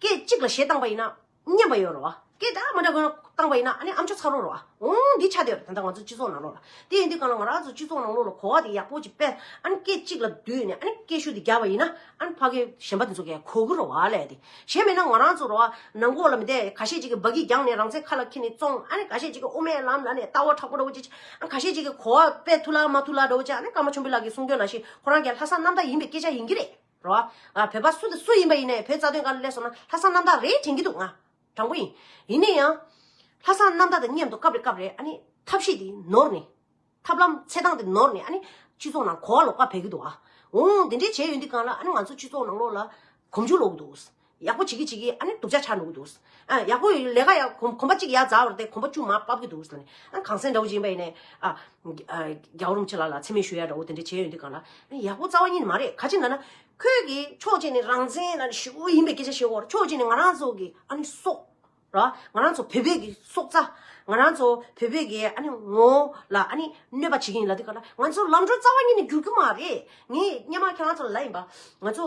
སྐད་གཅིག་ལ་ཞེ་སྡང་བ་ཡིན་ན་སྙན་པ་ཡོད་རོགས་ཨ། སྐད་དག་མ་འདྲ་གོ་སྡང་བ་ཡིན་ན་ཨ་ནི་ཨམ་ཆོ་ཚ་རོགས་རོགས་ཨ། འོང་འདི་ཆ་དེར་ད་ལྟ་ང་ཚོ་སྤྱི་ཚོགས་ནང་ལོགས་ལ། དེ་ཡིན་དུས་གང་ལ་ང་རང་ཚོ་སྤྱི་ཚོགས་ནང་ལོགས་ལ་གོ་བ་དེ་ཡག་པོ་ཅིག་དཔེ། ཨ་ནི་སྐད་གཅིག་ལ་བསྡུས་ནས་ཨ་ནི་སྐད་ཤུགས་དེ་རྒྱག་པ་ཡིན་ན་ཨ་ནི་ཕ་གི་གཞན་པ་དེ་ཚོ་གས་གོ་གི་རོགས་ཨ་ལས་དེ། གཞན་མེད་ན་ང་རང་ཚོ་རོགས་ཨ། ནང་སྒོ་ལ་མི་བསྡད་ག་ཤེད་ཅིག་གི་སྦ་གི་རྒྱང་ནས་རང་བཙན་ཁ་ལ་འཁྱེར་ནས་བཙོང་ཨ་ནི་ག་ཤེད་ཅིག་གི་དབུ་མའི་ལམ་ལ་ནས་ལྟ་བ་དྲག་པོ་འདྲ་བོ་ཅིག་བྱེད་ཨ་ནི་ག་ཤེད་ཅིག་གི་གོ་བ་དཔེ་ཐུག་ལག་མ་ཐུག་ལག་འདྲ་བོ་བྱེད་ཨ་ནི་ཀརྨ་ཆོམ་པོ་ལགས་ཀྱི་གསུང་དོན་ནང་བཞིན་ཁོ་རང་གས་ལྷ་ས་གནམ་བདག་ཡིན་པའི་སྐད་ཆ་ཡིན་གྱི་རེད། རོ། ང་བོད་པ་སུ་དང་སུ་ཡིན་པ་ཡིན་ནའི་བོད་རྩ་དོན་དགའ་ལོ་ལེགས་སོང་ན་ལྷ་བསང་རྣམ་དག་རེད་དྲན་གྱི་འདུག་ང། དྲང་པོ་ཡིན། ཡིན་ནའི་ཡང། ལྷ་བསང་རྣམ་དག་དང་མཉམ་དུ་སྐབས་རེ་སྐབས་རེ་ཨ་ནི། ཐབས་ཤེས་དེ་ནོར་ནས། ཐབས་ལམ་ཚད་སྟངས་དེ་ནོར་ནས་ཨ་ནི། སྤྱི་ཚོགས་ནང་གོ་བ་ལོག་པ་བེད་ཀྱི་འདུག་ཨ། འོང་འོང་དེ་འདྲའི་བྱས་ཡོད་འདི་གང་ལ་ཨ་ནི་ང་ཚོ་སྤྱི་ཚོགས་ནང་ལོག་ལ། གོམ་ཆུ་ལོག་གི་འདུག། ཡག་པོ་བྱེད་ཀྱི་བྱེད་ཀྱི་ཨ་ནི་སྡུག་ཅག་ཆགས་འགྲོ་གི་འདུག། ཨ་ཡག་པོ་ལས་ཀ་ཡག་གོམ་པ་གཅིག་ཡར་འཛགས་བར་དེ་གོམ་པ་བཅུ་མ་སྤབས་ཀྱི་འདུག་ཟེར་ནས། ཨ་གངས་སེང་འདྲ་བོ་ཅིག་ཡིན་པ་ཡིན་ནས། ཨ། རྒྱའུ་རུམ་ཆེ་ལ་ལ་མཚན་སྨད་ཞུ་ཡ་འདྲ་བོ་དེ་འདྲ་བྱས་ཡོང་དུས་གང་ལ། ཨ་ཡག་པོ་རྩ་བ་གཉིས་ནི་མ་རེད་ག་ཅིག་ན་ན། ཁོས་ཀྱིས་ཕྱོགས་གཅིག་ནས་རང་བཙན་ན་ནི་ཞུ་བོ་ཡིན་པའི་སྐད་ཆ་བཤད་བོར་ཕྱོགས་གཅིག་ནས་ང་རང་ཚོ་གི་ཨ་ནི་སྲོག། ར། ང་རང་ཚོ་བོད་པའི་གི་སྲོག་རྩ། ང་རང་ཚོ་བོད་པའི་གི་ཨ་ནི་ངོ་བོ་ལ་ཨ་ནི་གནོད་པ་བྱེད་ཀྱི་ཡིན་ལ་དུས་གང་ལ། ང་ཚོ་ལམ་འགྲོ་རྩ་བ་གཉིས་ནི་འགྱུར་རྒྱུ་མ་རེད། ངས་སྙེ་མ་ཁྱེད་རང་ཚོ་ལ་ལབ་ཡིན་པ། ང་ཚོ།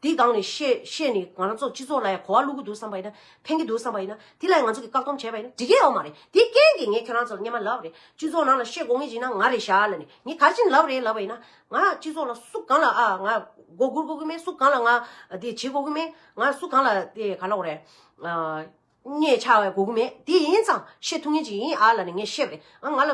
དེ་སྒང་ནས་བཤད་ནས་ང་རང་ཚོ་སྤྱི་ཚོགས་ལ་ཡང་གོ་བ་བླུག་གི་འདུག་བསམ་པ་ཡིན་ན་ཕན་གི་འདུག་བསམ་པ་ཡིན་ན་དེ་ལ་ཡང་ང་ཚོ་གིས་བཀག་སྡོམ་བྱས་པ་ཡིན་ན་འགྲིག་གི་ཡོད་མ་རེད་དེ་རྐྱེན་གྱིས་ངས་ཁྱོད་རང་ཚོར་བརྙན་མ་ལབ་རེད་སྤྱི་ཚོགས་ནང་ལ་བཤད་དགོ་ངེས་ཅིག་ན་ང་རེད་ཞར་ལ་ནས་ངས་ག་ཅིག་ལབ་རེད་ལབ་པ་ཡིན་ན་ང་སྤྱི་ཚོགས་ལ་སུ་གང་ལ་ཨ་ང་མགོ་སྒུར་དགོ་གི་མེད་སུ་གང་ལ་ང་དེ་བྱེད་དགོ་གི་མེད་ང་སུ་གང་ལ་དེ་ག་ལ་འོ་རེད། ངས་ཆ་བའི་གོ་གི་མེད་དེ་ཡིན་ཙང་བཤད་ཐུབ་ངེས་ཅིག་ཡིན་ཨ་ལ་ནི་ངས་བཤད་པ་རེད་ཨ་ང་ལ།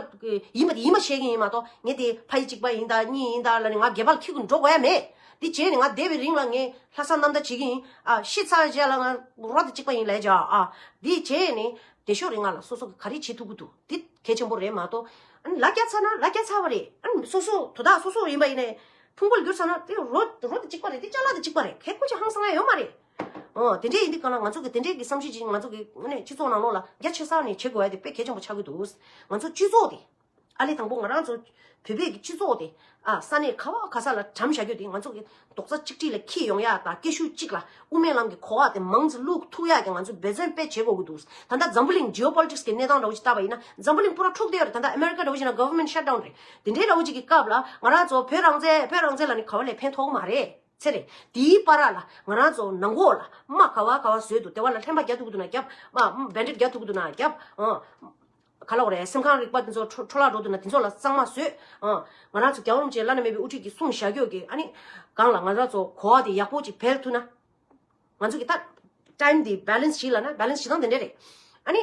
ཡིན་པ་དེ་ཡིན་པ་བཤད་ཀྱིན་ཡིན་མ་གཏོགས་ངས་དེ་ཕ་ཡི་གཅིག་པ་ཡིན་དང་གཉིས་ཡིན་དང་ལ་ནི་ང་སྒལ་པ་ལ་ཁྱི་གུ་འགྲོ་དགོས་ཡ་མེད། དེ་བྱས་ནས་ང་བསྡད་པའི་རིང་ལ་ངས་ལྷ་ས་ནམ་ཟླ་བྱེད་ཀྱིན་ཡིན་ཨ་ཤི་ཚར་རྗེས་ལ་ང་རོ་ད་གཅིག་པ་ཡིན་ལས་བྱ་ཨ། དེ་བྱས་ནས་བསྡད་ཤོག་རེད་ང་ལ་སོ་སོ་ག་རེ་བྱེད་ཐུབ་ཀྱི་འདུག་དེ་གལ་ཆེན་པོ་རེད་མ་གཏོགས། ཨ་ནི་ལ་སྐྱ་ཚར་ན་ལ་སྐྱ་ཚར་བ་རེད་ཨ་ནི་སོ་སོ་དོ་བདག་སོ་སོ་ཡིན་པ་ཡིན་ནས། ཕུང་པོ་ལ་གྱུར་ཚར་ན་དེ་རོ་ད་གཅིག་པ་རེད་དེ་ལྕགས་ལ་ད་གཅིག་པ་རེད་གལ་ཁུངས་ཅི་ཧང་སང་ཡ་ཡོད་མ་རེད། འོ་དེ་འདྲས་ཡིན་དུས་གང་ལ་ང་ཚོ་གི་དེ་འདྲས་ཀྱི་བསམ་གཞིག་ཅིག་ང་ཚོ་གི་སྤྱི་ཚོགས་ནང་ལོགས་ལ་རྒྱ་ཆེ་སར་ནས་བྱེད་དགོས་ཡ་དེ་དཔེ་གལ་ཆེན་པོ་ཆགས་ཀྱི་འདུག་ང་ཚོ་སྤྱི་ཚོགས་དེ། ཨ་ལས་དང་པོ་ང་རང་ཚོ་བོད་པའི་གི་སྤྱི་ཚོགས་དེ། ཨ་ས་གནས་ཁ་བ་ཁ་ས་ལ་གྲམ་བཞག་རྒྱུ་དེ་ང་ཚོ་གི་རྡོག་རྩ་གཅིག་སྒྲིལ་ལ་ཁྱེད་ཡོང་ཡ་དང་སྐད་ཤུགས་གཅིག་ལ་དབུ་མའི་ལམ་གི་གོ་བ་དེ་མང་ཙི་བླུག་ཐུག་ཡ་གི་ང་ཚོ་འབད་བརྩོན་དཔེ་བྱེད་དགོས་ཀྱི་འདུག་ད་ལྟ་འཛམ་བུ་གླིང Geo Politics གི་གནས་སྟངས་འདྲ་བོ་ཅིག་བལྟ་བ་ཡིན་ན་འཛམ་བུ་གླིང་པུ་ར་འཁྲུག་བསྡད་ཡོད་རེད་ད་ལྟ America འདྲ་བོ་ཞིག་ན Government Shut Down རེད་དེ་འདྲས་འདྲ་བོ་ཅིག་གི་སྐབས་ལ་ང་རང་ཚོ་བོད་རང་བཙན་བོད་རང་བཙན་ལ་ནི་ག་བ་ལས་ཕན་ཐོག་མ་རེད། ཚེ་རེད། དེའི་པ་རག་ལ་ང་རང་ཚོ་ནང་གོ་ལ་རྨ་ག་བ་ག་བ་བཟོས་འདུག་དེ་བ་ལ་ལྷན་པ་རྒྱ་ཐུག་ཐུག་ན་རྒྱབ། སྦན་རིབ་རྒྱ་ཐུག་ཐུག་ན་རྒྱབ། ག་ལ་འོ་རེད་སེམས་ཁང་རིག་པ་དེ་ཚོ་འཕྲོ་བརླག་འགྲོ་འདུག་ན་དེ་ཚོ་ལ་གཙང་མ་བཟོས། ང་རང་ཚོ་རྒྱ་འོམ་ཅན་བླ་ན་མེད་པའི་དབུ་ཁྲིད་ཀྱི་གསུང་བཞག་གྱོ་གྱིས་ཨ་ནི། སྒང་ལ་ང་རང་ཚོ་གོ་བ་དེ་ཡག་པོ་ཅིག་འཕེལ་ཐུག་ན། ང་ཚོ་གི་ཏག། Time དེ Balance བྱེད་ལ་ན Balance བྱེད་སྟངས་དེ་འདྲ་རེད། ཨ་ནི།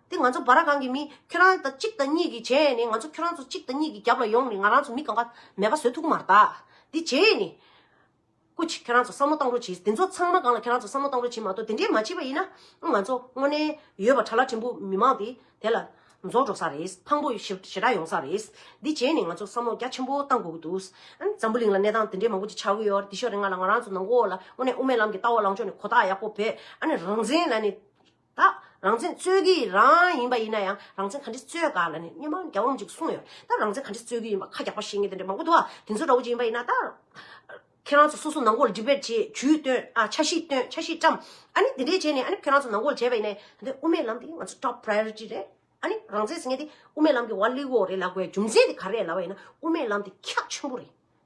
དེ་ང་ཚོ་བ་ར་གང་གི་མི་ཁྱོད་རང་དང་གཅིག་དང་གཉིས་ཀྱི་བྱས་ནས་ང་ཚོ་ཁྱོད་རང་ཚོ་གཅིག་དང་གཉིས་ཀྱི་རྒྱབ་ལ་ཡོང་ནས་ང་རང་ཚོ་མི་གང་ག་མེད་པ་བཟོས་ཐུག་གི་མ་རྟགས་དེ་བྱས་ནས། ཀུ་ཅི་ཁྱོད་རང་ཚོ་བསམ་བློ་བཏང་རོགས་གྱིས་དེ་ཚོ་ཚང་མ་གང་ལ་ཁྱོད་རང་ཚོ་བསམ་བློ་བཏང་རོགས་གྱིས་མ་གཏོགས་དེ་འདྲས་མ་བྱས་པ་ཡིན་ན་ང་ཚོ་དངོས་གནས་ཡོད་པ་གྲ་ལ་བྲིན་པོ་མི་མང་དེ་དེ་ལ་རྫོགས་འགྲོ་ས་རེད་ཕངས་པོ་ཞེ་ཞེ་དྲག་ཡོང་ས་རེད་དེ་བྱས་ནས་ང་ཚོ་བསམ་བློ་རྒྱ་ཆེན་པོ་བཏང་དགོས་ཀྱི་འདུག་འཛམ་བུ་གླིང་ལ་གནས་སྟངས་དེ་འདྲས་མང་པོ་ཅིག་ཆགས་ཀྱི་ཡོད་དེ་ཤོར་རེ་ང་ལ་ང་རང་ཚོ་ནང་སྒོ་ལ་དངོས་གནས་དབུ་མའི་ལམ་གྱི་ལྟ་བ་ལངས་ཕྱོགས་ནས་གོ་རྟགས་ཡག་པོ་བེད་ཨ་ནི་རང་བཙན་ལ་ནི། ད་རང་བཙན་རྩོད་ཀྱི་རང་ཡིན་པ་ཡིན་ན་ཡང་རང་བཙན་ག་འདྲི་རྩོད་ག་ལ་ནི་སྨྱོན་པ་རྒྱ་འོམ་ཅིག་གསུངས་ཡོད་ད་རང་བཙན་ག་འདྲི་རྩོད་ཀྱི་ཡིན་པ་ཁ་རྒྱག་པ་བཤད་ངེས་དེ་འདྲ་མང་པོ་འདུག་ཨ་དེ་ཚོ་ར་བོ་ཅིག་ཡིན་པ་ཡིན་ན་ད། ཁྱེད་རང་ཚོ་སོ་སོ་ནང་སྒོར debate བྱེད་ཇུས་བཏོན་ཨ་ཆ་ཤིས་བཏོན་ཆ་ཤིས་བཀྲམ་ཨ་ནི་དེ་འདྲས་བྱས་ནས་ཨ་ནི་ཁྱེད་རང་ཚོ་ནང་སྒོར་བྱས་པ་ཡིན་ནས་ད་དེ་དབུ་མའི་ལམ་དེ་ང་ཚོ top priority རེད་ཨ་ནི་རང་བཙན་ཟེར་ངེས་དེ་དབུ་མའི་ལམ་གྱི་ཝར་ལི་ཝོ་རེད་ལ་དགོས་རྒྱུ་མཚན་དེ་ག་རེད་ལ་བ་ཡིན་ན་དབུ་མའི་ལམ་དེ་ཁྱག་ཆེན་པོ་རེད་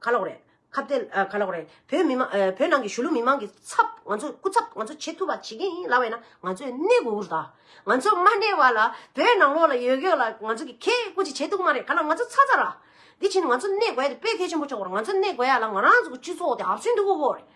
ཁ་ལོག་རེད། ཁ་བརྡའི་ཁ་ལོག་རེད། བོད་མི་མང་བོད་ནང་གི་གཞུ་ལུ་མི་མང་གི་ཚབ་ང་ཚོ་སྐུ་ཚབ་ང་ཚོ་བྱེད་ཐུབ་པ་བྱེད་མཁན་ཡིན་ལབ་ཡོད་ན་ང་ཚོས་གནས་དགོས་ཀུ་རུ་དང། ང་ཚོ་མ་གནས་བ་ལ་བོད་ནང་ལོག་ལ་ཡོད་ཡོད་ལ་ང་ཚོ་གི་ཁེ་སྐུ་ཅིག་བྱེད་ཐུབ་མ་རེད་ག་ལ་ང་ཚོ་ཚ་ཚ་ར། དེ་ཕྱིན་ང་ཚོ་གནས་དགོས་ཡ་དེ་དཔེ་ཁེ་ཆེན་པོ་ཆོག་པ་རེད་ང་ཚོ་གནས་དགོས་ཡ་ལ་ང་རང་ཚོ་གི་སྤྱི་ཚོགས་དེ་ཧབ་ཆུན་དུ་འུ་བོ་རེད།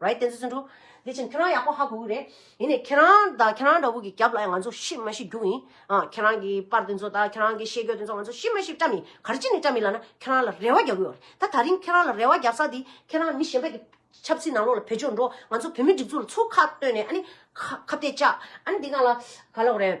རེད་བསྟན་འཛིན་འདུག་དེ་བཞིན་ཁྱོད་རང་ཡག་པོ་ཧ་གོ་གི་རེད། ཡིན་ནས་ཁྱེད་རང་དང་ཁྱེད་རང་འདྲ་བོ་གི་རྒྱབ་ལ་ཡང་ང་ཚོ་ཤི་མ་ཤི་རྒྱུ་ཡིན། ཁྱེད་རང་གི་པར་དེ་ཚོ་དང་ཁྱེད་རང་གི་བཤད་རྒྱུ་དེ་ཚོ་ང་ཚོ་ཤི་མ་ཤི་བཀྲ་མི་གར་ཅི་ནས་བཀྲ་མི་ལགས་ན་ཁྱེད་རང་ལ་རེ་བ་རྒྱག་གི་ཡོད་རེད་ད་ད་རིང་ཁྱེད་རང་ལ་རེ་བ་རྒྱག་ས་དེ་ཁྱེད་རང་མི་གཞན་པ་གི་ཆབ་སྲིད་ནང་ལོག་ལ་བེད་སྤྱོད་འགྲོ་ང་ཚོ་བོད་མི་སྒྲིག་འཛུགས་ལ་ཚུར་ཁ་བཏོན་ནས་ཨ་ནི་ཁ་བལྟས་བཅག་ཨ་ནི་དེ་ག་ལ་ག་ལོག་རེད།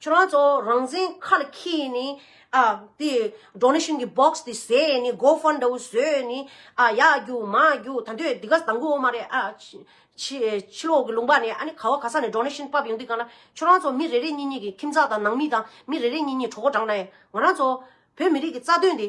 ཁྱོད་རང་ཚོ་རང་བཙན་ཁ་ལ་ཁྱེར་ཡས་ནས། ཨ། དེ། Donation གི Box དེ་བཟས་ཡས་ནས Go Fund དེའུ་བཟོས་ཡས་ནས། ཨ། ཡག་རྒྱུ་མ་རྒྱུ་ད་འདོད་དེ་ག་དང་པོའོ་མ་རེད་ཨ། ཕྱི། ཕྱི་ལོག་གི་ལུང་པ་ནས་ཨ་ནི་ག་བ་ག་ས་ནས Donation ཕབ་ཡོང་དུས་གང་ལ། ཁྱོད་རང་ཚོ་མི་རེ་རེ་གཉིས་གཉིས་ཀྱི་ཁྱིམ་ཚང་དང་ནང་མི་དང་མི་རེ་རེ་གཉིས་གཉིས་གྲོགས་པོ་བགྲང་ན་ཡས། ང་རང་ཚོ། བོད་མི་རིགས་ཀྱི་རྩ་དོན་དེ།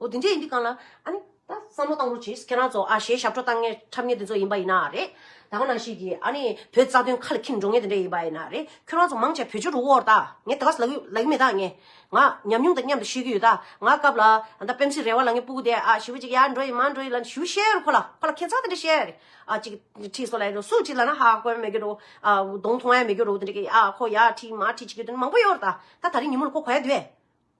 འོ་དེ་འདྲས་ཡིན་དུས་གང་ལ། ཨ་ནི། ད་བསམ་བློ་བཏང་རོགས་གྱིས་ཁྱེད་རང་ཚོ་ཨ་ཞེས་ཞབས་བྲོ་བཏང་ངེས་འཁྲབ་ངེས་དེ་ཚོ་ཡིན་པ་ཡིན་ན་རེད། ད་གང་ན་ཞིག་གིས་ཨ་ནི་བོད་རྩ་དོན་ཁ་ལ་འཁྱེར་འགྲོ་ངེས་དེ་འདྲས་ཡིན་པ་ཡིན་ན་རེད། ཁྱོད་རང་ཚོ་མང་ཆེ་བོད་ཆོལ་རུ་འོར་ད་ངས་དེ་ག་ཟླ་གི་མེད་ད་ངས། ང། ཉམས་མྱོང་དང་མཉམ་དུ་ཤེས་ཀྱི་ཡོད་ད་ང་སྐབས་ལ། ད་སྤེམ་སི་རེ་བ་ལ་ངའི་སྤུ་གུ་དེ་ཨ་ཞི་བུ་གཅིག་ཡར་འགྲོ་ཡི་མར་འགྲོ་ཡི་ལ་ཞུ་བཤད་རོགས་ཁོ་ལ་ཁོ་ལ་ཁྱེད་ཚང་དེ་འདྲས་བཤད། ཨ་གཅིག་གིས་ཁྲིད་སོ་ལ་ཡིན་རུང་སུ་གཅིག་ལ་ན་ཧ་ཧ་གོ་ཡ་མེད་གི་རུང། ཨ་གདོང་མཐོང་ཡ་མེད་གི་རུང་དེ་འདྲས་ཀྱིས་ཨ་ཁོ་ཡར་ཁྲིད་མར་ཁྲིད་བྱེད་ཀྱི་དོན་མང་པོ་ཡོད་རེད་ད། ད་ད་རིང་ཉིན་མོ་ལ་ཁོ་གོ་ཡ་དུས།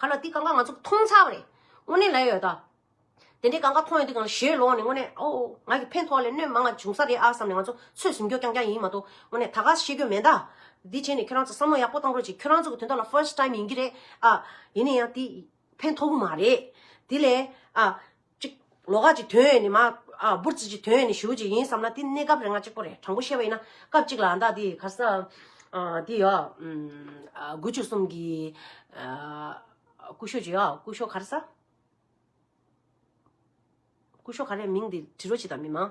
གང་ལ་དེ་གང་ག་ང་ཚོ་མཐོང་ཚར་བ་རེད་དངོས་གནས་ལེགས་ཡོད་དོ། དེ་འདྲའི་གང་ག་མཐོང་ཡོད་དུས་གང་ལ་ཞེས་ལོག་ནས་དངོས་གནས་ཨོའོ་ང་གི་ཕན་ཐོག་ལས་གནོད་མང་ང་བྱུང་ས་རེད་ཨ་བསམ་ནས་ང་ཚོ་ཚོད་ཟིན་རྒྱོ་རྐྱང་རྐྱང་ཡིན་མ་གཏོགས་དངོས་གནས་ད་ག་ཤེས་རྒྱོ་མེད་ད། དེ་བྱས་ནས་ཁྱོད་རང་ཚོ་བསམ་བློ་ཡག་པོ་བཏང་རོགས་གྱིས་ཁྱོད་རང་ཚོ་གི་དོན་དག་ལ་ཕོསྟ་ཏའིམ་ཡིན་གྱི་རེད་ཨ། ཡིན་ནས་ཡང་དེ་ཕན་ཐོག་གི་མ་རེད། དེ་ལས་ཨ། གཅིག། ལོ་ཁ་ཅིག་དོན་ཡོད་ནི་མ། འབུར་རྩིས་ཀྱི་དོན་ཡོད་ནི་ཞུ་རྒྱུ་ཡིན་བསམ་ན་དེ་གནས་སྐབས་རེ་ང་གཅིག་པོ་རེད་དྲང་པོ་བཤད་པ་ཡིན་ན་སྐབས་གཅིག་ལ་ཨ་མདའ་དེ་ག་ས། དེ་ཡོ། དགུ་བཅུ་གསུམ་གྱི། སྐུ་ཞོ་ཅི་ཡོ་སྐུ་ཞོ་ག་རེ་ས། སྐུ་ཞོ་ག་རེ་མིང་དེ་དྲི་རོ་ཅི་དང་མི་མང།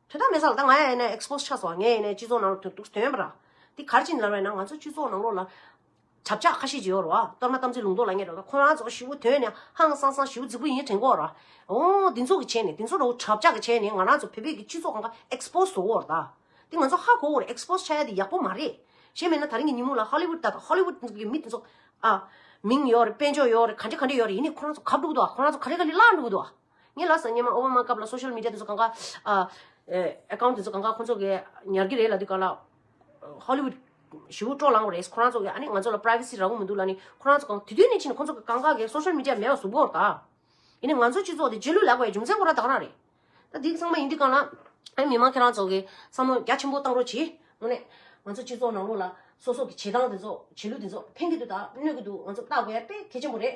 དོན་དག་མེད་ས་ལ་ད་ང་ཡ་ཡེ་ནས expose ཆགས་སོང་ང་ཡེ་ནས་སྤྱི་ཚོགས་ནང་ལ་དོན་དུག་དོན་ཡོད་པ་ར། དེ་གར་ཕྱིན་ལར་བས་ན་ང་ཚོ་སྤྱི་ཚོགས་ནང་ལོགས་ལ། བྱབ་ཆགས་ཁ་ཤས་ཀྱི་ཡོད་ར་བ་གཏོར་མ་གཏམ་ཚིག་ལུང་མདོག་ལ་ཉེ་ར་བ་ཁོ་རང་ཚོ་ཞི་བོ་དོན་ནི་ཧང་སང་སང་ཞི་བོ་རྫིག་པོ་ཡིན་དྲན་གོ་ར། འོ་འདི་ཚོ་གི་བྱས་ནས་དེ་ཚོ་ར་བོ་བྱབ་ཆགས་ཀྱི་བྱས་ནས་ང་རང་ཚོ་བོད་པའི་གི་སྤྱི་ཚོགས་ཁང་ཁ expose བཟོ་བོར་ད། དེ་ང་ཚོ་ཧ་གོ་བོར expose ཆགས་ཡ་དེ་ཡག་པོ་མ་རེད། ཞེ་མེད་ན་ད་རིང་གི་ཉིན་མོ་ལ Hollywood ད Hollywood གི་མི་དེ་ཚོ། ཨ། མིང་ཡོད་རེད་དཔལ་འབྱོར་ཡོད་རེད་ག་འདྲེ་ག་འདྲེ་ཡོད་རེད་ཡིན་ནས་ཁོ་རང་ཚོ་གབ་འགྲོ་གི་འདུག་ཨ་ཁོ་རང་ཚོ་ག་འདྲེ་ག་འདྲེ་བརླག་འགྲོ་གི་འདུག་ཨ། ངའི་ལགས་སོ་སྙེ་མ་ཨོ་བྷ་མ་སྐབས་ལ Social Media དེ་ཚོ་གང་ག Account དེ་ཚོ་གང་ག་ཁོང་ཚོ་གི་ཉར་གི་རེད་ལ་དུས་གང་ལ Hollywood ཞུ་བོ་ཀྲོག་ལངས་པ་རེད་ཁོང་རང་ཚོ་གི་ཨ་ནི་ང་ཚོ་ལ Privacy རག་གོ་མི་འདུག་ལ་ནི་ཁོང་རང་ཚོ་གང་དེ་དུས་ནས་ཕྱིན་ཁོང་ཚོ་གི་གང་ག་གི Social Media མེད་པ་བཟོ་བོར་ད་ཡིན་ནི་ང་ཚོ་སྤྱི་ཚོགས་དེ་རྗེས་ལུས་ལག་པའི་རྒྱུ་མཚན་ཁོ་རང་དག་རང་རེད་ད་དེ་ཚང་མ་ཡིན་དུས་གང་ལ་ཨ་མི་མང་ཁྱེད་རང་ཚོ་གི་བསམ་བློ་རྒྱ་ཆེན་པོ་བཏང་རོགས་གྱིས་ངོ་ནས་ང་ཚོ་སྤྱི་ཚོགས་ནང་ལོགས་ལ་སོ་སོ་གི་བྱེད་སྟངས་དེ་ཚོ་བྱེད་ལུགས་དེ་ཚོ་ཕན་གི་འདུག་ད་གནོད་གི་འདུག་ང་ཚོ་བརྟག་དགོས་ཡ་དཔེ་གལ་ཆེན་པོ་རེད་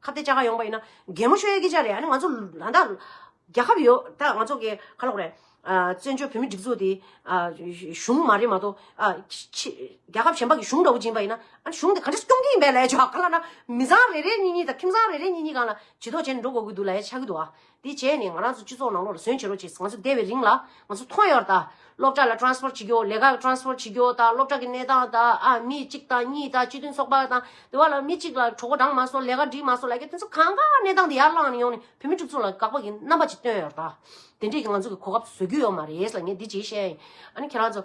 ཁ་བརྡའི་བཅའ་ཁ་ཡོང་པ་ཡིན་ན་གད་མོ་ཤོད་ཡ་གི་ཆ་རེད་ཨ་ནི་ང་ཚོ་ད་ལྟ་རྒྱལ་ཁབ་ཡོད་ད་ང་ཚོ་གི་ཁ་ལོག་རེད། བཙན་བྱོལ་བོད་མིའི་སྒྲིག་འཛུགས་དེ་གཞུང་མ་རེད་མ་གཏོགས། རྒྱལ་ཁབ་གཞན་པ་གི་གཞུང་འདྲ་བོ་སྦྱིན་པ་ཡིན་ན་ཨ་ནི་གཞུང་དེ་ག་འདྲ་ཞིག་སྐྱོང་གི་ཡིན་པའི་ལས་བྱ་ག་ལ་ན་མི་བཟང་རེ་རེ་གཉིས་གཉིས་དང་ཁྱིམ་བཟང་རེ་རེ་གཉིས་གཉིས་གང་ལ་བྱི་དོག་བྱས་ནས་འགྲོ་དགོས་ཀྱི་འདུག་ལ་ཡ་ཆ་གི་འདུག་ཨ། དེ་བྱས་ནས་ང་རང་ཚོ་སྤྱི་ཚོགས་ནང་ལོགས་ལ་ཟོན་བྱེད་རོགས་བྱས་ཟེར་ང་ཚོ་བསྡད་པའི་རིང་ལ་ང་ཚོ་མཐོང་ཡོད་ད། སློབ་གྲྭ་ལ Transport བྱེད་རྒྱུ་ལས་ཀ Transport བྱེད་རྒྱུ་ད་སློབ་གྲྭ་གི་གནས་སྟངས་ད་ཨ་མི་གཅིག་དང་གཉིས་དང་སྤྱི་མཐུན་ཚོགས་པ་དང་དེ་བ་ལ་མི་གཅིག་ལ་གྲོགས་པོ་བགྲང་མ་སོང་ལས་ཀ་སྒྲིག་མ་སོང་ལ་ཀྱི་དེ་ཚོ་གང་ག་གནས་སྟངས་དེ་ཡར་བླངས་ནས་ཡོང་ནས་བོད་མི་ཕྲུག་ཚོ་ལ་དགག་པ་གི་རྣམ་པ་ཅིག་སྟོན་ཡོད་ད། དེ་འདྲས་ཀྱི་ང་ཚོ་གི་གོ་སྐབས་བཟོ་རྒྱུ་ཡོད་མ་རེད་ལ་ངས་འདི་བྱས་ཤེས། ཨ་ནི་ཁྱེད་རང་ཚོ།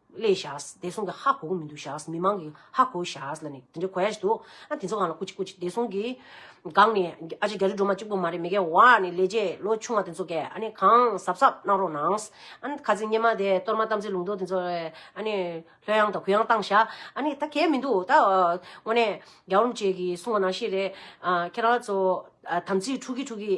ལས་བྱ། བདེ་སྲུང་གི་ཧ་གོ་གི་མི་འདུག་བྱ། མི་མང་གི་ཧ་གོ་བྱ་ལ་ནི་དེ་འདྲའི་གོ་ཡ་ཞིག་འདུག་ཨ་དེ་ཚོ་གང་ལ་བསྐུར་ཅིག་བསྐུར་ཅིག་བདེ་སྲུང་གི། སྒང་ནས་ཨ་ཅེ་རྒྱ་རི་སྒྲོལ་མ་གཅིག་པོ་མ་རེད་མི་སྐལ་བ་ནི་ལས་བྱེད་ལོ་ཆུང་བ་དེ་ཚོ་གས་ཨ་ནི་གང་གཟབ་གཟབ་གནང་རོགས་གནང། ཨ་ནི་ཁ་ཚིག་སྙན་མ་དེ་གཏོར་མ་དམ་ཚིག་ལུང་རྟོགས་དེ་ཚོ་ཨ་ནི་ལྷོད་ཡང་དང་གུ་ཡང་བཏང་བྱ། ཨ་ནི་ད་གས་མི་འདུག་ད་དངོས་གནས་རྒྱ་འོམ་བཅས་ཀྱིས་གསུང་བ་ནང་བཞིན་རེད། ཁྱེད་རང་ཚོ་དམ་ཚིག་འཁྲུག་གི་འཁྲུག་གི།